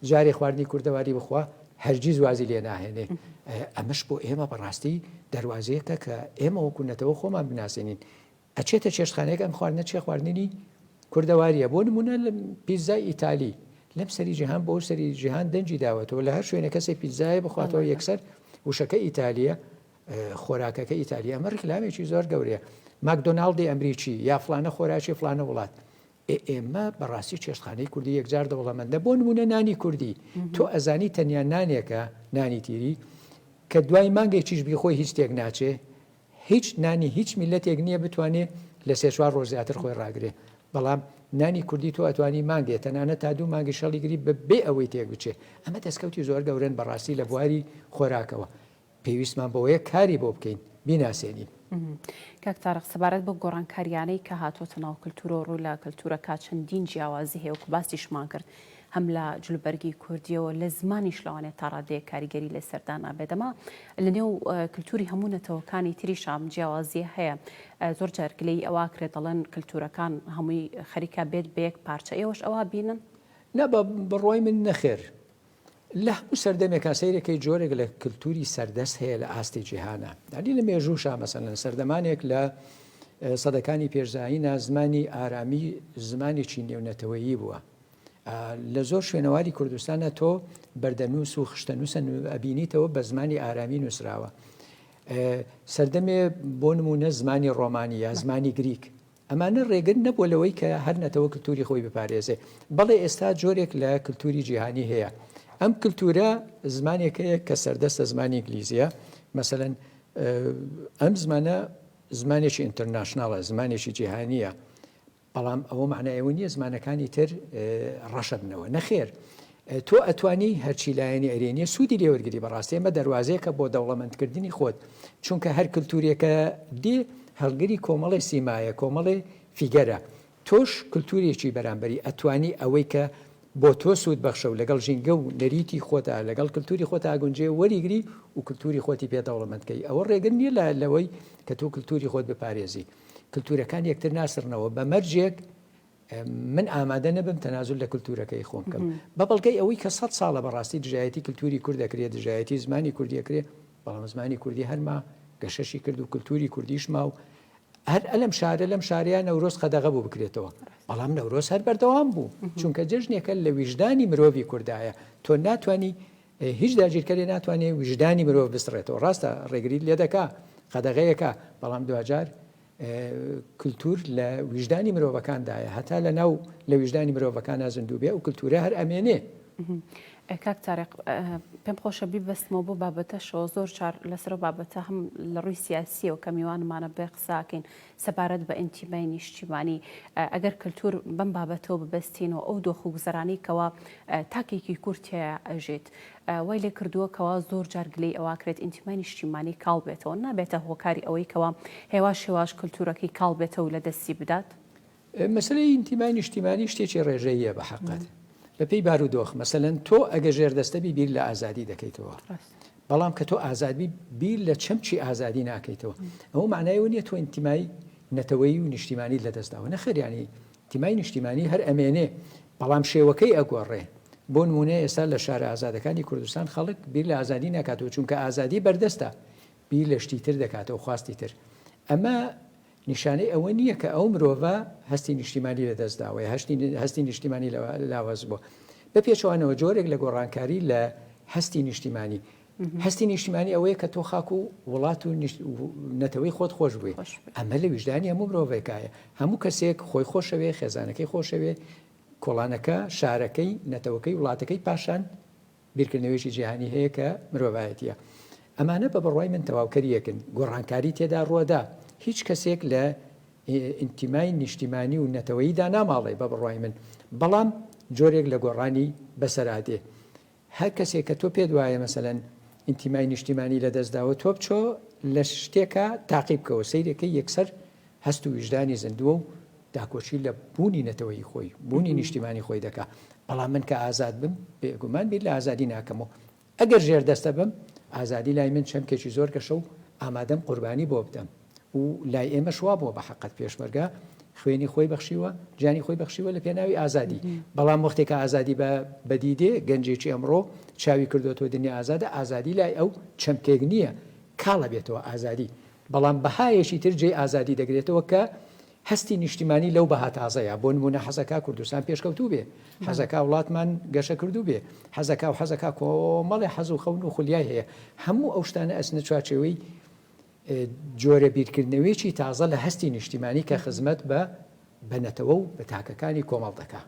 جارێ خواردنی کوردەواری بخوا هەرگیز وازی لێ ناهێنێ ئەمەش بۆ ئێمە بەڕاستی دەواازەیەکە کە ئێمە وەکوونەتەوە خۆمان بناسیێنین ئەچێتە چێشتخانەیەک ئەم خواردنە چێ خواردنی کوردەواریە بۆ نمونە لە پیزای ئیتالی لەم سەری جیهان بۆ سەری جیهان دەنجی داوەتەوە لە هەر شوێنە کەسی پیزایە بخواتەوە یەکسەر وشەکە ئیتالیە خۆراکەکە ئیتالیا ئەمە ڕیکلامێکی زۆر گەورەیە ماکدۆناالدی ئەمریکی یا فلانە خۆراکی فلانە وڵات ئێمە بەڕاستی چێشتخانەی کوردی یەکجار دەوڵەمەندە بۆ نمونە نانی کوردی تۆ ئەزانی تەنیا نانێکە نانی تیری کە دوای مانگێکیش بیخۆی هیچ تێک ناچێ هیچ نانی هیچ میلەتێک نیە بتوانێ لە سێ چوار ڕۆژ زیاتر خۆی ڕاگرێ بەڵام نانی کوردی تۆ ئەتوانی مانگێ تەنانە تا دوو مانگی شەڵی گری بە بێ ئەوەی تێک بچێ ئەمە دەستکەوتی زۆر گەورن بەڕاستی لە بواری خۆراکەوە پێویستمان بەوەیە کاری بۆ بکەین بیناسێنین. کاک
تارق سەبارەت بە گۆڕانکاریانەی کە هاتۆتە ناو کللتورۆ ڕوو لە کللتورەکە چەندین جیاوازی هەیە وکو باسیشمان کرد هەم لە جلوبەرگی کوردییەوە لە زمانیش لەوانەیە تا ڕادەیەک کاریگەری لەسەر دانا بێت. ئەمە لەنێو کلتوری هەموو نەتەوەکانی تریشا ئەم جیاوازییە هەیە. زۆر جار گلەیی ئەوە ئەکرێت دەڵێن کلتورەکان هەمووی خەریکە بێت بە یەک پارچە. ئێوەش ئەوە بینن؟ نا بە
بڕوای من نەخێر. لە هەموو سەردەمێکا سەیر ئەکەی جۆرێک لە کلتوری سەردەست هەیە لە ئاستی جیهانا. یانی لە مێژووشا مەسەلەن سەردەمانێک لە سەدەکانی پێش زایینە زمانی ئارامی زمانێکی نێونەتەوەیی بووە. لە زۆر شوێنەواری کوردستانە تۆ بەردەنووس و خشتەنووسە ئەبینیتەوە بە زمانی ئارامی نووسراوە سەردەمێ بۆ نمونە زمانی ڕۆمانی یا زمانی گریک ئەمانە ڕێگر نەبووە لەوەی کە هەر نەتەوە کللتوری خۆی بپارێزێ بەڵێ ئێستا جۆرێک لە کللتوری جیهانی هەیە ئەم کللتورە زمانێکەیە کە سەردەستە زمانی ئینگلیزیە مەمثلەن ئەم زمانە زمانێکی ئینتەرناشنناڵە زمانێکی جیهانیە بەڵام ئەوە مەعنای ئەوە نیە زمانەکانی تر ڕەشە بنەوە نەخێر تۆ ئەتوانی هەرچی لایەنی ئەرێنیە سوودی لێوەرگری بەڕاستی ئەمە دەواازەیەکە بۆ دەوڵەمەندکردنی خۆت چونکە هەر کللتوریەکە دێ هەڵگری کۆمەڵی سیمایە کۆمەڵێ فیگەرە تۆش کللتوریەکی بەرامبەری ئەتوانی ئەوەی کە بۆ تۆ سوود بەخشە و لەگەڵ ژینگە و نەریتی خۆتا لەگەڵ کللتوری خۆتا گونجێ وەریگری و کللتوری خۆتی پێ دەوڵەمەندکەی ئەوە ڕێگر نیە لە لەوەی کە تۆ کللتوری خۆت بپارێزی کلتورەکان یەکتر ناسڕنەوە بە مەرجێک من ئامادە نەبم تەنازل لە کللتورەکەی خۆم بکەم بە بەڵگەی ئەوەی کە سە ساڵە بەڕاستی دژایەتی کللتوری کورد دەکرێت دژایەتی زمانی کوردی دەکرێت بەڵام زمانی کوردی هەرما گەشەشی کرد و کللتوری کوردیشما و هەر ئەلم شارە لەم شارەیە نەورۆز قەدەغە بوو بکرێتەوە بەڵام نەورۆز هەر بەردەوام بوو چونکە جژنێکە لە ویژدانی مرۆڤی کوردایە تۆ ناتانی هیچ داگیرکەرێ ناتوانێ ویژدانی مرۆڤ بسڕێتەوە ڕاستە ڕێگری لێدەکا قەدەغەیەکا بەڵام دواجار کلتور لە ویژدانی مرۆڤەکاندایە هەتا لە ناو لە ویژدانی مرۆڤەکانە زیندوو بێ و کلتورە هەر ئەمێنێ
کاک تارق پێم خۆشە بیبەستمەوە بۆ بابەتەشەوە زۆر چار لەسەر بابەتە هەم لە ڕووی سیاسیەوە کە میوانمانە بێ قساکەین سەبارەت بە ئینتیمای نیشتیمانی، ئەگەر کەلتوور بەم بابەتەوە ببەستینەوە، ئەو دۆخ و گوزەرانەی کەوا تاکێکی کورد تیایا ئەژیت، وای لێ کردووە کەوا زۆر جار گلەی ئەوە کرێت ئینتیمای نیشتیمانی کاڵ بێتەوە، نابێتە هۆکاری ئەوەی کەوا هێواش هێواش کەلتوورەکەی کاڵ بێتەوە و لە دەستی بدات؟ مەسەلەی
ئینتیمای نیشتیمانی شتێکی ڕێژەییە بە حەقەت بە پێی بارودۆخ مەسەلەن تۆ ئەگە ژێر دەستەبی بیر لە ئازادی دەکەیتەوە بەڵام کە تۆ ئازادبی بیر لە چەمچی ئازادی ناکەیتەوە ئەوە معنایەوە نیە تۆ ئینتیمای نەتەوەی و نیشتیمانی لە دەستداوە نەخەریانی تیمای نیشتیمانی هەر ئەمێنێ بەڵام شێوەکەی ئەگۆڕێ بۆ نمونە ئێستا لە شارە ئازادەکانی کوردستان خەڵک بیر لە ئازادی ناکاتەوە چونکە ئازادی بەردەستە بیر لە شتی تر دەکاتەوە، خواستی تر. ئەمە نیشانەی ئەوە نییە کە ئەو مرۆڤە هەستی نیشتیمانی لە دەست داوە، یا هەستی نیشتیمانی لاواز بووە. بە پێچەوانەوە جۆرێک لە گۆڕانکاری لە هەستی نیشتیمانی. هەستی نیشتیمانی ئەوەیە کە تۆ خاک و وڵات و نەتەوەی خۆت خۆش بووی. ئەمە لە ویژدانی هەموو مرۆڤێکایە. هەموو کەسێک خۆی خۆشەوێ، خێزانەکەی خۆشەوێ، کۆڵانەکە، شارەکەی، نەتەوەکەی، وڵاتەکەی پاشان. بیرکردنەوەیەکی جیهانی هەیە کە مرۆڤایەتییە. ئەمانە بە بڕوای من تەواوکەری یەکن. گۆڕانکاری تێدا ڕوەدا. هیچ کەسێک لە ئینتیمای نیشتیمانی و نەتەوەیی داناماڵێ بە بڕوای من. بەڵام جۆرێک لە گۆڕانی بەسەرادێ. هەر کەسێک کە تۆ پێت وایە مەسەلەن ئینتیمای نیشتیمانی لە دەست داوە تۆ بچۆ لە شتێکا تاقی بکەوە سەیرێکەی یەکسەر هەست و ویژدانی زیندووە و داکۆکی لە بوونی نەتەوەیی خۆی، بوونی نیشتیمانی خۆی دەکا. بەڵام من کە ئازاد بم، بێگومان بیر لە ئازادی ناکەم و ئەگەر ژێردەستە بم، ئازادی لای من چەمکێکی زۆر گەشە و ئامادەم قوربانی بۆ بدەم و لای ئێمەش وا بووە بە حەقت. پێشمەرگە خوێنی خۆی بەخشیوە، گیانی خۆی بەخشیوە لە پێناوی ئازادی. بەڵام وەختێ کە ئازادی بە بەدی دێ، گەنجێکی ئەمڕۆ چاوی کردۆتەوە دنیا ئازادە، ئازادی لای ئەو چەمکێک نییە کاڵ ئەبێتەوە ئازادی. بەڵام بەهایەکی تر جێی ئازادی دەگرێتەوە کە هەستی نیشتیمانی لەو بەها تازەیە، بۆ نموونە حەزەکا کوردستان پێشکەوتوو بێ، حەزەکا وڵاتمان گەشەکردوو بێ، حەزەکا و حەزەکا کۆمەڵێ حەز و خەون و خولیای هەیە، هەموو ئەو شتانە ئەچنە چوارچێوەی جۆرە بیرکردنەوەیەکی تازە لە هەستی نیشتیمانی کە خزمەت بە بە نەتەوە و بە تاکەکانی کۆمەڵ دەکا.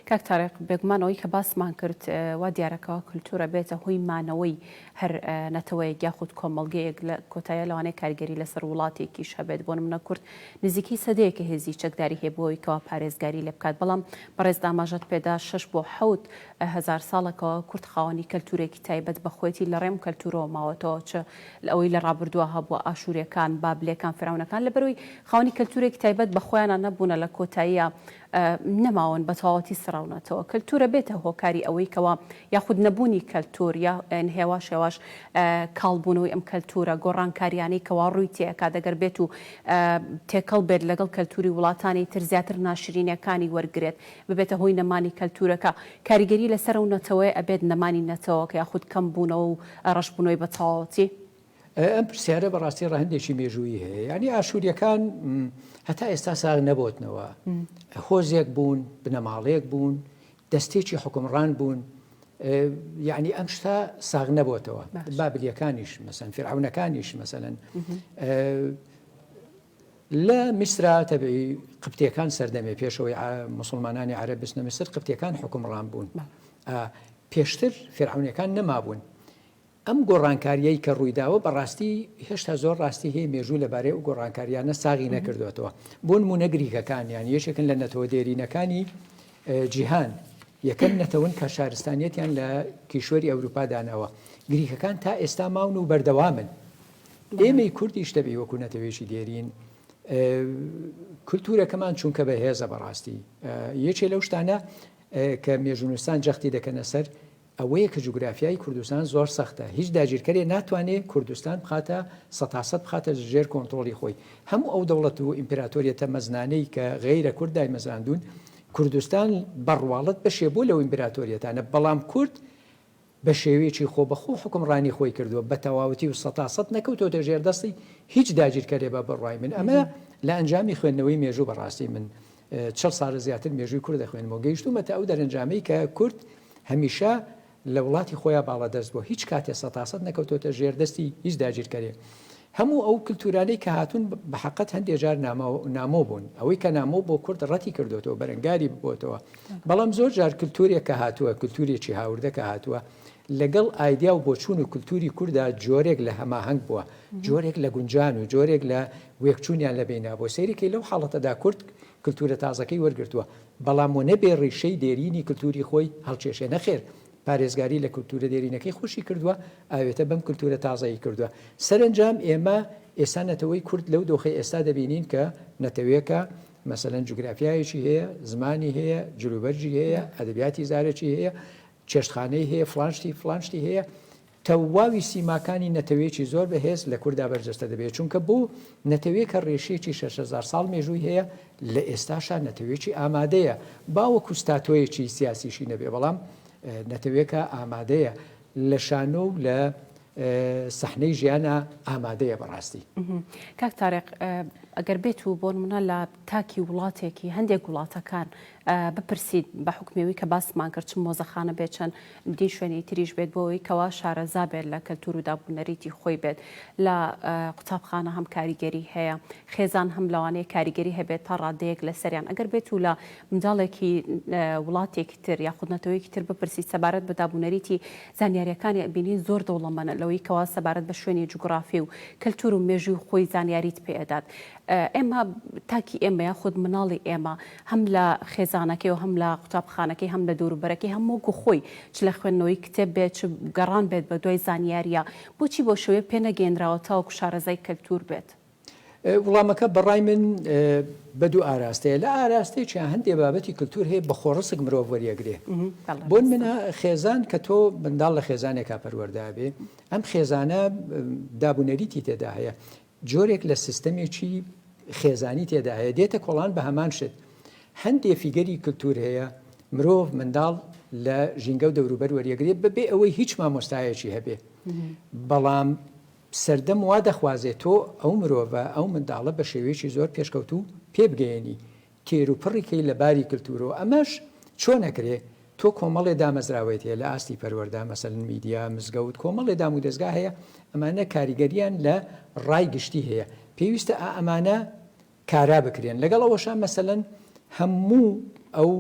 کاک تاریق،
بێگومان ئەوەی کە باسمان کرد وا دیارە کەوا کلتوورە بێتە هۆی مانەوەی هەر نەتەوەیەک یاخود کۆمەڵگەیەک لە کۆتاییا لەوانەیە کاریگەری لەسەر وڵاتێکیش هەبێت، بۆ نمونە کورد نزیکەی سەدەیەکە هێزی چەکداری هەیە بۆ ئەوەی کەوا پارێزگاری لێ بکات، بەڵام بەڕێزت ئاماژەت پێدا شەش بۆ حەوت هەزار ساڵە کەوا کورد خاوەنی کەلتورێکی تایبەت بە خۆیەتی لە ڕێم کەلتورەوە ماوەتەوە چ لە ئەوەی لە ڕابردووا هەبووە ئاشوریەکان، بابلێکان، فیرعەونەکان لەبەرئەوەی خاوەنی کەلتورێکی تایبەت بە خۆیانە نەبوونە لە کۆتاییا نەماون بەتەواوەتی سڕاونەتەوە کەلتورە بێتە هۆکاری ئەوەی کەوا یاخود نەبوونی کەلتور یا هێواش هێواش کاڵ بوونەوەی ئەم کەلتورە گۆڕانکاریانەی کەوا ڕووی تێکا دەگەر بێت و تێکەڵ بێت لەگەڵ کەلتوری وڵاتانی تر زیاتر ناشرینەکانی وەرگرێت ببێتە هۆی نەمانی کەلتورەکە کاریگەری لەسەر ئەو نەتەوەیە ئەبێت نەمانی نەتەوەکە یاخود کەم بوونەوە و ڕەشبوونەوەی بەتەواوەتی ئەم
پرسیارە بەڕاستی ڕەهندێکی مێژووی هەیە ینی ئاشووریەکان هەتا ئێستا ساغ نەبتنەوە هۆزێک بوون بنەماڵەیەک بوون دەستێکی حکومڕان بوون یعنی ئەم شتا ساغ نەبتەوە بابلیەکانیش مەسەن فرعونەکانیش مەسەن لە میسرا تەبی قپتەکان سەردەمێ پێشەوەی مسلمانانی عرە بستنە میسر قپتەکان حکومڕان بوون پێشتر فرعونەکان نەمابوون ئەم گۆڕانکارییەی کە ڕوویداوە بە ڕاستی هێشتا زۆر ڕاستی هەیە مێژوو لە بارەی ئەو گۆڕانکارییانە ساغی نەکردۆتەوە. بۆ نموونە گریکەکانیان یەکێکن لە نەتەوە دێرینەکانی جیهان. یەکەم نەتەون کە شارستانیەتیان لە کیشوەری ئەوروپا داناوە. گریکەکان تا ئێستا ماون و بەردەوامن. ئێمەی کوردیش دەبی وەکو نەتەوێکی دێرین کلتورەکەمان چونکە بە هێزە بەڕاستی یەکێ لەو شتانە کە مێژونوستان جەختی دەکەنە سەر ئەوەیە کە جوگرافیای کوردستان زۆر سەختە، هیچ داگیرکەرێ ناتوانێ کوردستان بخاتە سەتاسەت بخاتە ژێر کۆنترۆڵی خۆی. هەموو ئەو دەوڵەت و ئیمپراتۆریەتە مەزنانەی کە غەیرە کورد دایمەزراندوون، کوردستان بە ڕواڵەت بەشێ بووە لەو ئیمپراتۆریەتانە، بەڵام کورد بە شێوەیەکی خۆبەخۆ حوکمڕانی خۆی کردووە بە تەواوەتی و سەتاسەت نەکەوتۆتە ژێر دەستی هیچ داگیرکەرێ بە بڕوای من ئەمە لە ئەنجامی خوێندنەوەی مێژوو بە ڕاستی من چڵ ساڵە زیاتر مێژووی کورد دەخوێنم و گەیشتوومەتە ئەو دەرەنجامەی کە کورد هەمیشە لە وڵاتی خۆیان باڵادەست بووە، هیچ کاتێ سەتاسەد نەکەوتۆتە ژێر دەستی هیچ داگیرکەرێ. هەموو ئەو کلتورانەی کە هاتوون بەحەقەت هەندێ جار نامۆ بوون، ئەوەی کە نامۆ بۆ کورد ڕەتی کردۆتەوە، بەرەنگاری ببۆتەوە، بەڵام زۆر جار کلتورێک کە هاتووە، کلتورێکی هاوردە کە هاتووە، لەگەڵ ئایدیا و بۆچوون و کلتووری کوردا جۆرێک لە هەماهەنگ بووە، جۆرێک لە گونجان و جۆرێک لە وێکچوونیان لە بەیندا بووە. سەیری کەی لەو حاڵەتەدا کورد کلتوورە تازەکەی وەرگرتووە، بەڵام و نەبێ ڕیشەی دێرینی کلتووری خۆی هەڵکێشێ، نەخێر پارێزگاری لە کلتوورە دێرینەکەی خۆشی کردووە، ئاوێتە بەم کلتوورە تازەی کردووە. سەرەنجام ئێمە ئێستا نەتەوەی کورد لەو دۆخەی ئێستا دەبینین کە نەتەوێکە مەسەلەن جوگرافیایەکی هەیە، زمانی هەیە، جلوبەرگی هەیە، ئەدەبیاتی زارەکی هەیە، چێشتخانەی هەیە فڵان شتی فڵان شتی هەیە تەواوی سیماکانی نەتەوەیەکی زۆر بەهێز لە کوردا بەرجەستە دەبێت چونکە بۆ نەتەوەیە کە ڕێشیەکی 6هزار ساڵ مێژووی هەیە لە ئێستاشا نەتەوەیەکی ئامادەیە باوە کوستاتۆیەکی سیاسیشی نەبێ بەڵام نەتەوێکە ئامادەیە لە شانۆ و لە سەحنەی ژیانە ئامادەیە بەڕاستی کاک تارێق
ئەگەر بێت و بۆن منە لە تاکی وڵاتێکی هەندێک وڵاتەکان بپرسیت بە حوکمی ئەوی کە باسمان کرد چ مۆزەخانە بێت چەند دی شوێنی تریش بێت بۆ ئەوی کەوا شارەزا بێت لە کەلتور و دابوونەریتی خۆی بێت لە قوتابخانە هەم کاریگەری هەیە خێزان هەم لەوانەیە کاریگەری هەبێت تا ڕادەیەک لە سەریان ئەگەر بێت و لە منداڵێکی وڵاتێکی تر یا خودنەتەوەیەکی تر بپرسی سەبارەت بە دابوونەریتی زانیاریەکانی ئەبینین زۆر دەوڵەمەە لەوەی کەوا سەبارەت بە شوێنی جوگرافی و کەلتور و مێژوی خۆی زانیاریت پێدات ئێمە، تاکی ئێمە یاخود مناڵی ئێمە، هەم لە خێزانەکەی و هەم لە قوتابخانەکەی، هەم لە دەوروبەرەکەی، هەم وەکو خۆی، چ لە خوێندنەوەی کتێب بێت، چ گەڕان بێت بە دوای زانیارییە، بۆچی بەو شێوەیە پێ نەگەیەنراوە تاوەکو شارەزای کەلتوور بێت؟ وڵامەکە
بە ڕای من بە دوو ئاراستەیە، لە ئاراستەیەکیان هەندێ بابەتی کەلتوور هەیە بە خۆڕسک مرۆڤ وەریەگرێ. بۆن منە خێزان کە تۆ منداڵ لە خێزانێکا پەروەردە بێ، ئەم خێزانە داب و نەریتی تێدا هەیە. جۆرێک لە سیستەمێکی خێزانی تێدا هەیە دێتە کۆڵان بە هەمان شت هەندێ فیگەری کلتور هەیە مرۆڤ منداڵ لە ژینگە و دەوروبەر وەریەگرێت بەبێ ئەوەی هیچ مامۆستایەکی هەبێ بەڵام سەردەم وا دەخوازێت تۆ ئەو مرۆڤە ئەو منداڵە بە شێوەیەکی زۆر پێشکەوتوو پێبگەیەنی تێروپڕی کەی لە باری کلتورەوە ئەمەش چۆن ئەکرێ تۆ کۆمەڵێ دامەزراوەیت هەیە لە ئاستی پەروەردە مەسەلەن میدیا مزگەوت کۆمەڵێ دام و دەزگا هەیە ئەمانە کاریگەریان لە ڕای گشتی هەیە پێویستە ئا ئەمانە کارا بکرێن لەگەڵ ئەوەشە مەسەلەن هەموو ئەو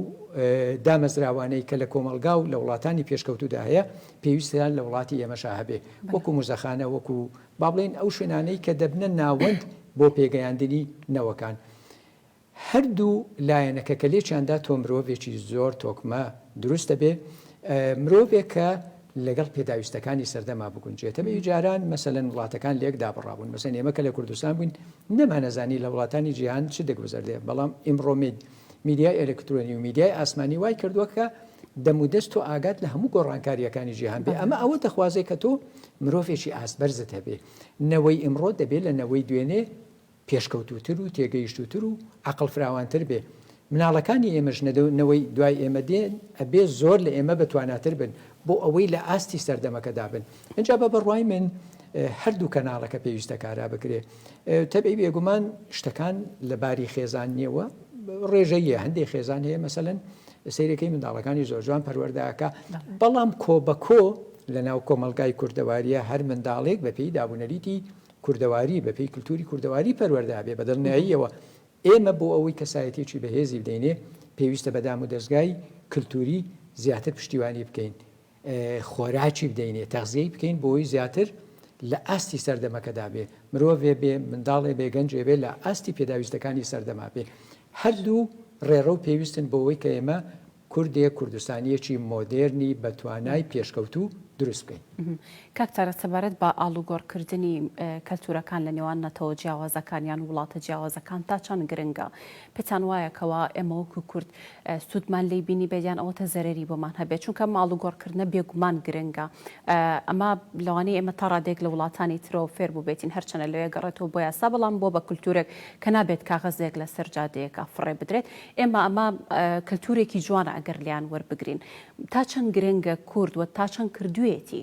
دامەزراوانەی کە لە کۆمەلگا و لە وڵاتانی پێشکەوتودا هەیە پێویستیان لە وڵاتی ئێمەشا هەبێ وەکو مزەخانە وەکو با بڵێن ئەو شوێنانەی کە دەبنە ناوەند بۆ پێگەیاندنی نەوەکان. هەردوو لایەنەکە کە لێکیان دا تۆ مرۆڤێکی زۆر تۆکمە دروست دەبێ، مرۆڤێک کە لەگەڵ پێداویستەکانی سەردەما بگونجێتەوە، جاران مەسەلەن وڵاتەکان لێک دابڕابوون، مەسەلەن ئێمە کە لە کوردستان بووین نەمانەزانی لە وڵاتانی جیهان چ دەگوزەردێ، بەڵام ئیمڕۆ میدیای ئەلکترۆنی و میدیای ئاسمانی وای کردووە کە دەم و دەست تۆ ئاگات لە هەموو گۆڕانکارییەکانی جیهان بێ، ئەمە ئەوە دەخوازێ کە تۆ مرۆڤێکی ئاست بەرزت هەبێ، نەوەی ئیمڕۆ دەبێ لە نەوەی دوێنێ، پێشکەوتووتر و تێگەیشتووتر و عەقڵ فراوانتر بێ مناڵەکانی ئێمەش نەوەی دوای ئێمە دێن ئەبێ زۆر لە ئێمە بەتواناتر بن بۆ ئەوەی لە ئاستی سەردەمەکەدا بن ئینجا بە بڕوای من هەردوو کەناڵەکە پێویستە کارا بکرێ تەبعی بێگومان شتەکان لە باری خێزان نیەوە ڕێژەیە هەندێک خێزان هەیە مەسەن سیرەکەی منداڵەکانی زۆر جوان پەروەرداکە بەڵام کۆ بە کۆ لە ناو کۆمەلگای کوردەواریە هەر منداڵێک بە پێی دابوونەریتی کوردەواری بە پێی کلتوری کوردەواری پەروەردە ئەبێ بە دڵنیاییەوە ئێمە بۆ ئەوەی کەسایەتیەکی بەهێزی بدەینێ پێویستە بە دام و دەزگای کلتوری زیاتر پشتیوانی بکەین خۆراکی بدەینێ تەغزیەی بکەین بۆی زیاتر لە ئاستی سەردەمەکەدا بێ مرۆڤێ بێ منداڵێ بێ گەنجێ بێ لە ئاستی پێداویستەکانی سەردەما بێ هەردوو ڕێڕە و پێویستن بۆەوەی کە ئێمە کوردێک کوردستانییەکی مۆدێرنی بە توانای پێشکەوتوو دروست بکەین. کاک تارق
سەبارەت بە ئاڵوگۆڕ کردنی کەلتوورەکان لە نێوان نەتەوە جیاوازەکان یان وڵاتە جیاوازەکان تا چەند گرنگە؟ پێتان وایە کەوا ئێمە وەکوو کورد سوودمان لێی بینیبێت یان ئەوەتە زەرەری بۆمان هەبێت؟ چونکە ئەم ئاڵوگۆڕ کردنە بێگومان گرنگە. ئەمە لەوانەیە ئێمە تا ڕادەیەک لە وڵاتانی ترەوە فێر بووبێتین هەر چەنە لەوێ گەڕێتەوە بۆ یاسا بەڵام بۆ بە کولتوورێک کە نابێت کاغەزێک لە سەر جادەیەکا فڕێ بدرێت ئێمە ئەمە کەلتورێکی جوانە ئەگەر لێیان وەربگرین تا چەند گرنگە کورد و تا چەند کردوویەتی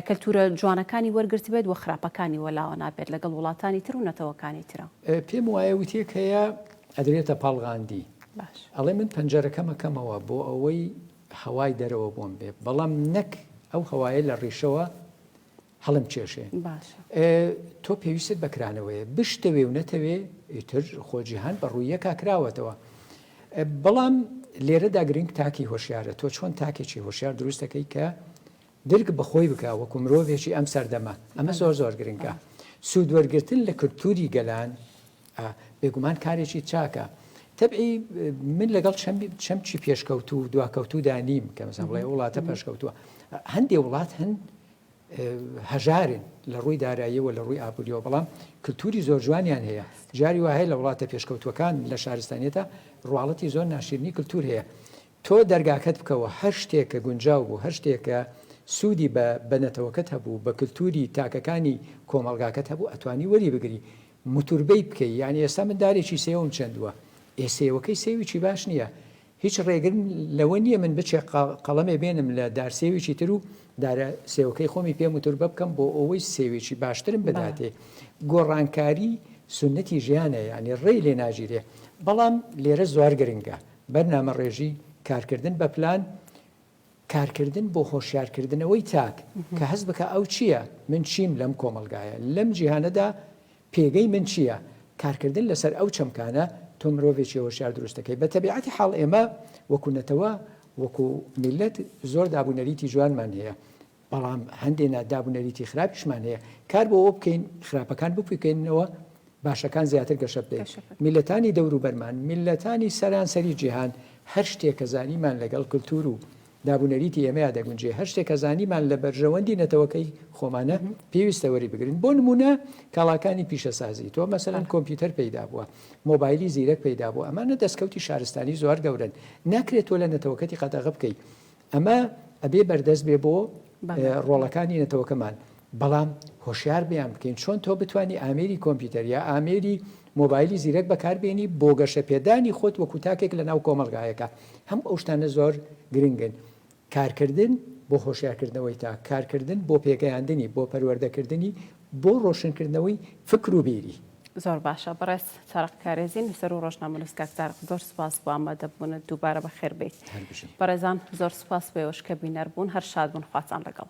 کەلتورە جوانەکانی وەرگرتبێت و خراپەکانی وەلاوە نابێت لەگەڵ وڵاتانی تر و نەتەوەکانی ترا. پێم وایە وتەیەک
هەیە ئەدرێتە پاڵ غاندی ئەڵێ من پەنجەرەکەم ئەکەمەوە بۆ ئەوەی هەوای دەرەوە بۆم بێ بەڵام نەک ئەو هەوایە لە ڕیشەوە هەڵم کێشێ تۆ پێویستت بە کرانەوەیە بشتەوێ و نەتەوێ ئیتر خۆجییهان بە ڕوویەکە کراوەتەوە بەڵام لێرەدا گرنگ تاکی هۆشیارە تۆ چۆن تاکێکی هۆشیار دروستەکەی کە درک بەخۆی بکە وەکو مرۆڤێکی ئەم سەردەمە ئەمە زۆر زۆر گرنگە سوود وەرگتن لە کللتوری گەلان ئا بێگومان کارێکی چاکە. تەبعی من لەگەڵ چەمکی پێشکەوتو و دواکەوتودا نیم کە مەسەن بڵێ وڵاتە پێشکەوتووە هەندێک وڵات هەن هەژارن لە ڕووی داراییەوە لە ڕووی ئابوووریەوە بەڵام کللتوری زۆر جوانیان هەیە جاری وهەیە لە وڵاتە پێشکەوتوەکان لە شارستانیەتە ڕواڵەتی زۆر ناشرنی کللتور هەیە تۆ دەرگاکەت بکەوە هەر شتێکە گونجاو بوو هەر شتێکە سوودی بە بەنەتەوەکەت هەبوو بە کللتوری تاکەکانی کۆمەلگاکەت هەبوو ئەتوانی وەری بگری موتوربەی بکەی یانی ئێستا من دارێکی سێوم چەندوە ئێ سێوەکەی سێویکی باش نیە هیچ ڕێگرم لەوە نیە من بچێ قەڵەمێ بێنم لە دار سێویکی ترو دارە سێوەکەی خۆمی پێ موتوربە بکەم بۆ ئەوەی سێوێکی باشترم بداتێ گۆڕانکاری سونەتی ژیانە یانی ڕێی لێ ناگیرێ بەڵام لێرە زۆر گرنگە بەرنامەڕێژی کارکردن بە پلان کارکردن بۆ هۆشیارکردنەوەی تاک، کە هەست بکا ئەو چییە؟ من چیم لەم کۆمەڵگایە؟ لەم جیهانەدا پێگەی من چییە؟ کارکردن لەسەر ئەو چەمکانە تۆ مرۆڤێکی هۆشیار دروست دەکەی. بە تەبیعەتی حاڵ ئێمە وەکو نەتەوە، وەکو میللەت زۆر دابونەریتی جوانمان هەیە. بەڵام هەندێ ناداب و نەریتی خراپیشمان هەیە کار بۆ ئەوە بکەین خراپەکان بپوکێننەوە باشەکان زیاتر گەشە بدەین میللەتانی دەوروبەرمان میللەتانی سەرانسەری جیهان هەر شتێک کە زانیمان لەگەڵ کلتور و داب و نەریتی ئێمەیا دەگونجێ هەر شتێک کە زانیمان لە بەرژەوەندی نەتەوەکەی خۆمانە پێویستە وەری بگرین بۆ نمونە کاڵاکانی پیشەسازی تۆ مەسەلەن کۆمپیوتەر پەیدا بووە مۆبایلی زیرەک پەیدا بوو ئەمانە دەستکەوتی شارستانی زۆر گەورن ناکرێت تۆ لە نەتەوەکەتی قەدەغە بکەیت ئەمە ئەبێ بەردەست بێ بۆ ڕۆڵەکانی نەتەوەکەمان بەڵام هۆشیار بیان بکەین چۆن تۆ بتانی ئامێری کۆمپیوتەر یا ئامێری مۆبایلی زیرەک بەکاربیێنی بۆ گەشە پێدانی خۆت وەکو تاکێک لە ناو کۆمەلگایەکە هەم ئەو شتانە زۆر گرنگن کارکردن بۆ هۆشیارکردنەوەی تا کارکردن بۆ پێگەیاندنی بۆ پەروەردەکردنی بۆ ڕۆشنکردنەوەی فکر و بیری. زۆر باشە
بەڕێز تارق کارێزی نووسەر و ڕۆژنامەنووس کاک تارق زۆر سوپاس بۆ ئامادەبوونت دووبارە بەخێر بێیت هەر بژی. بەڕێزان زۆر سوپاس بۆ ئێوەش کە بینەر بوون هەر شاد بن خواتان لەگەڵ.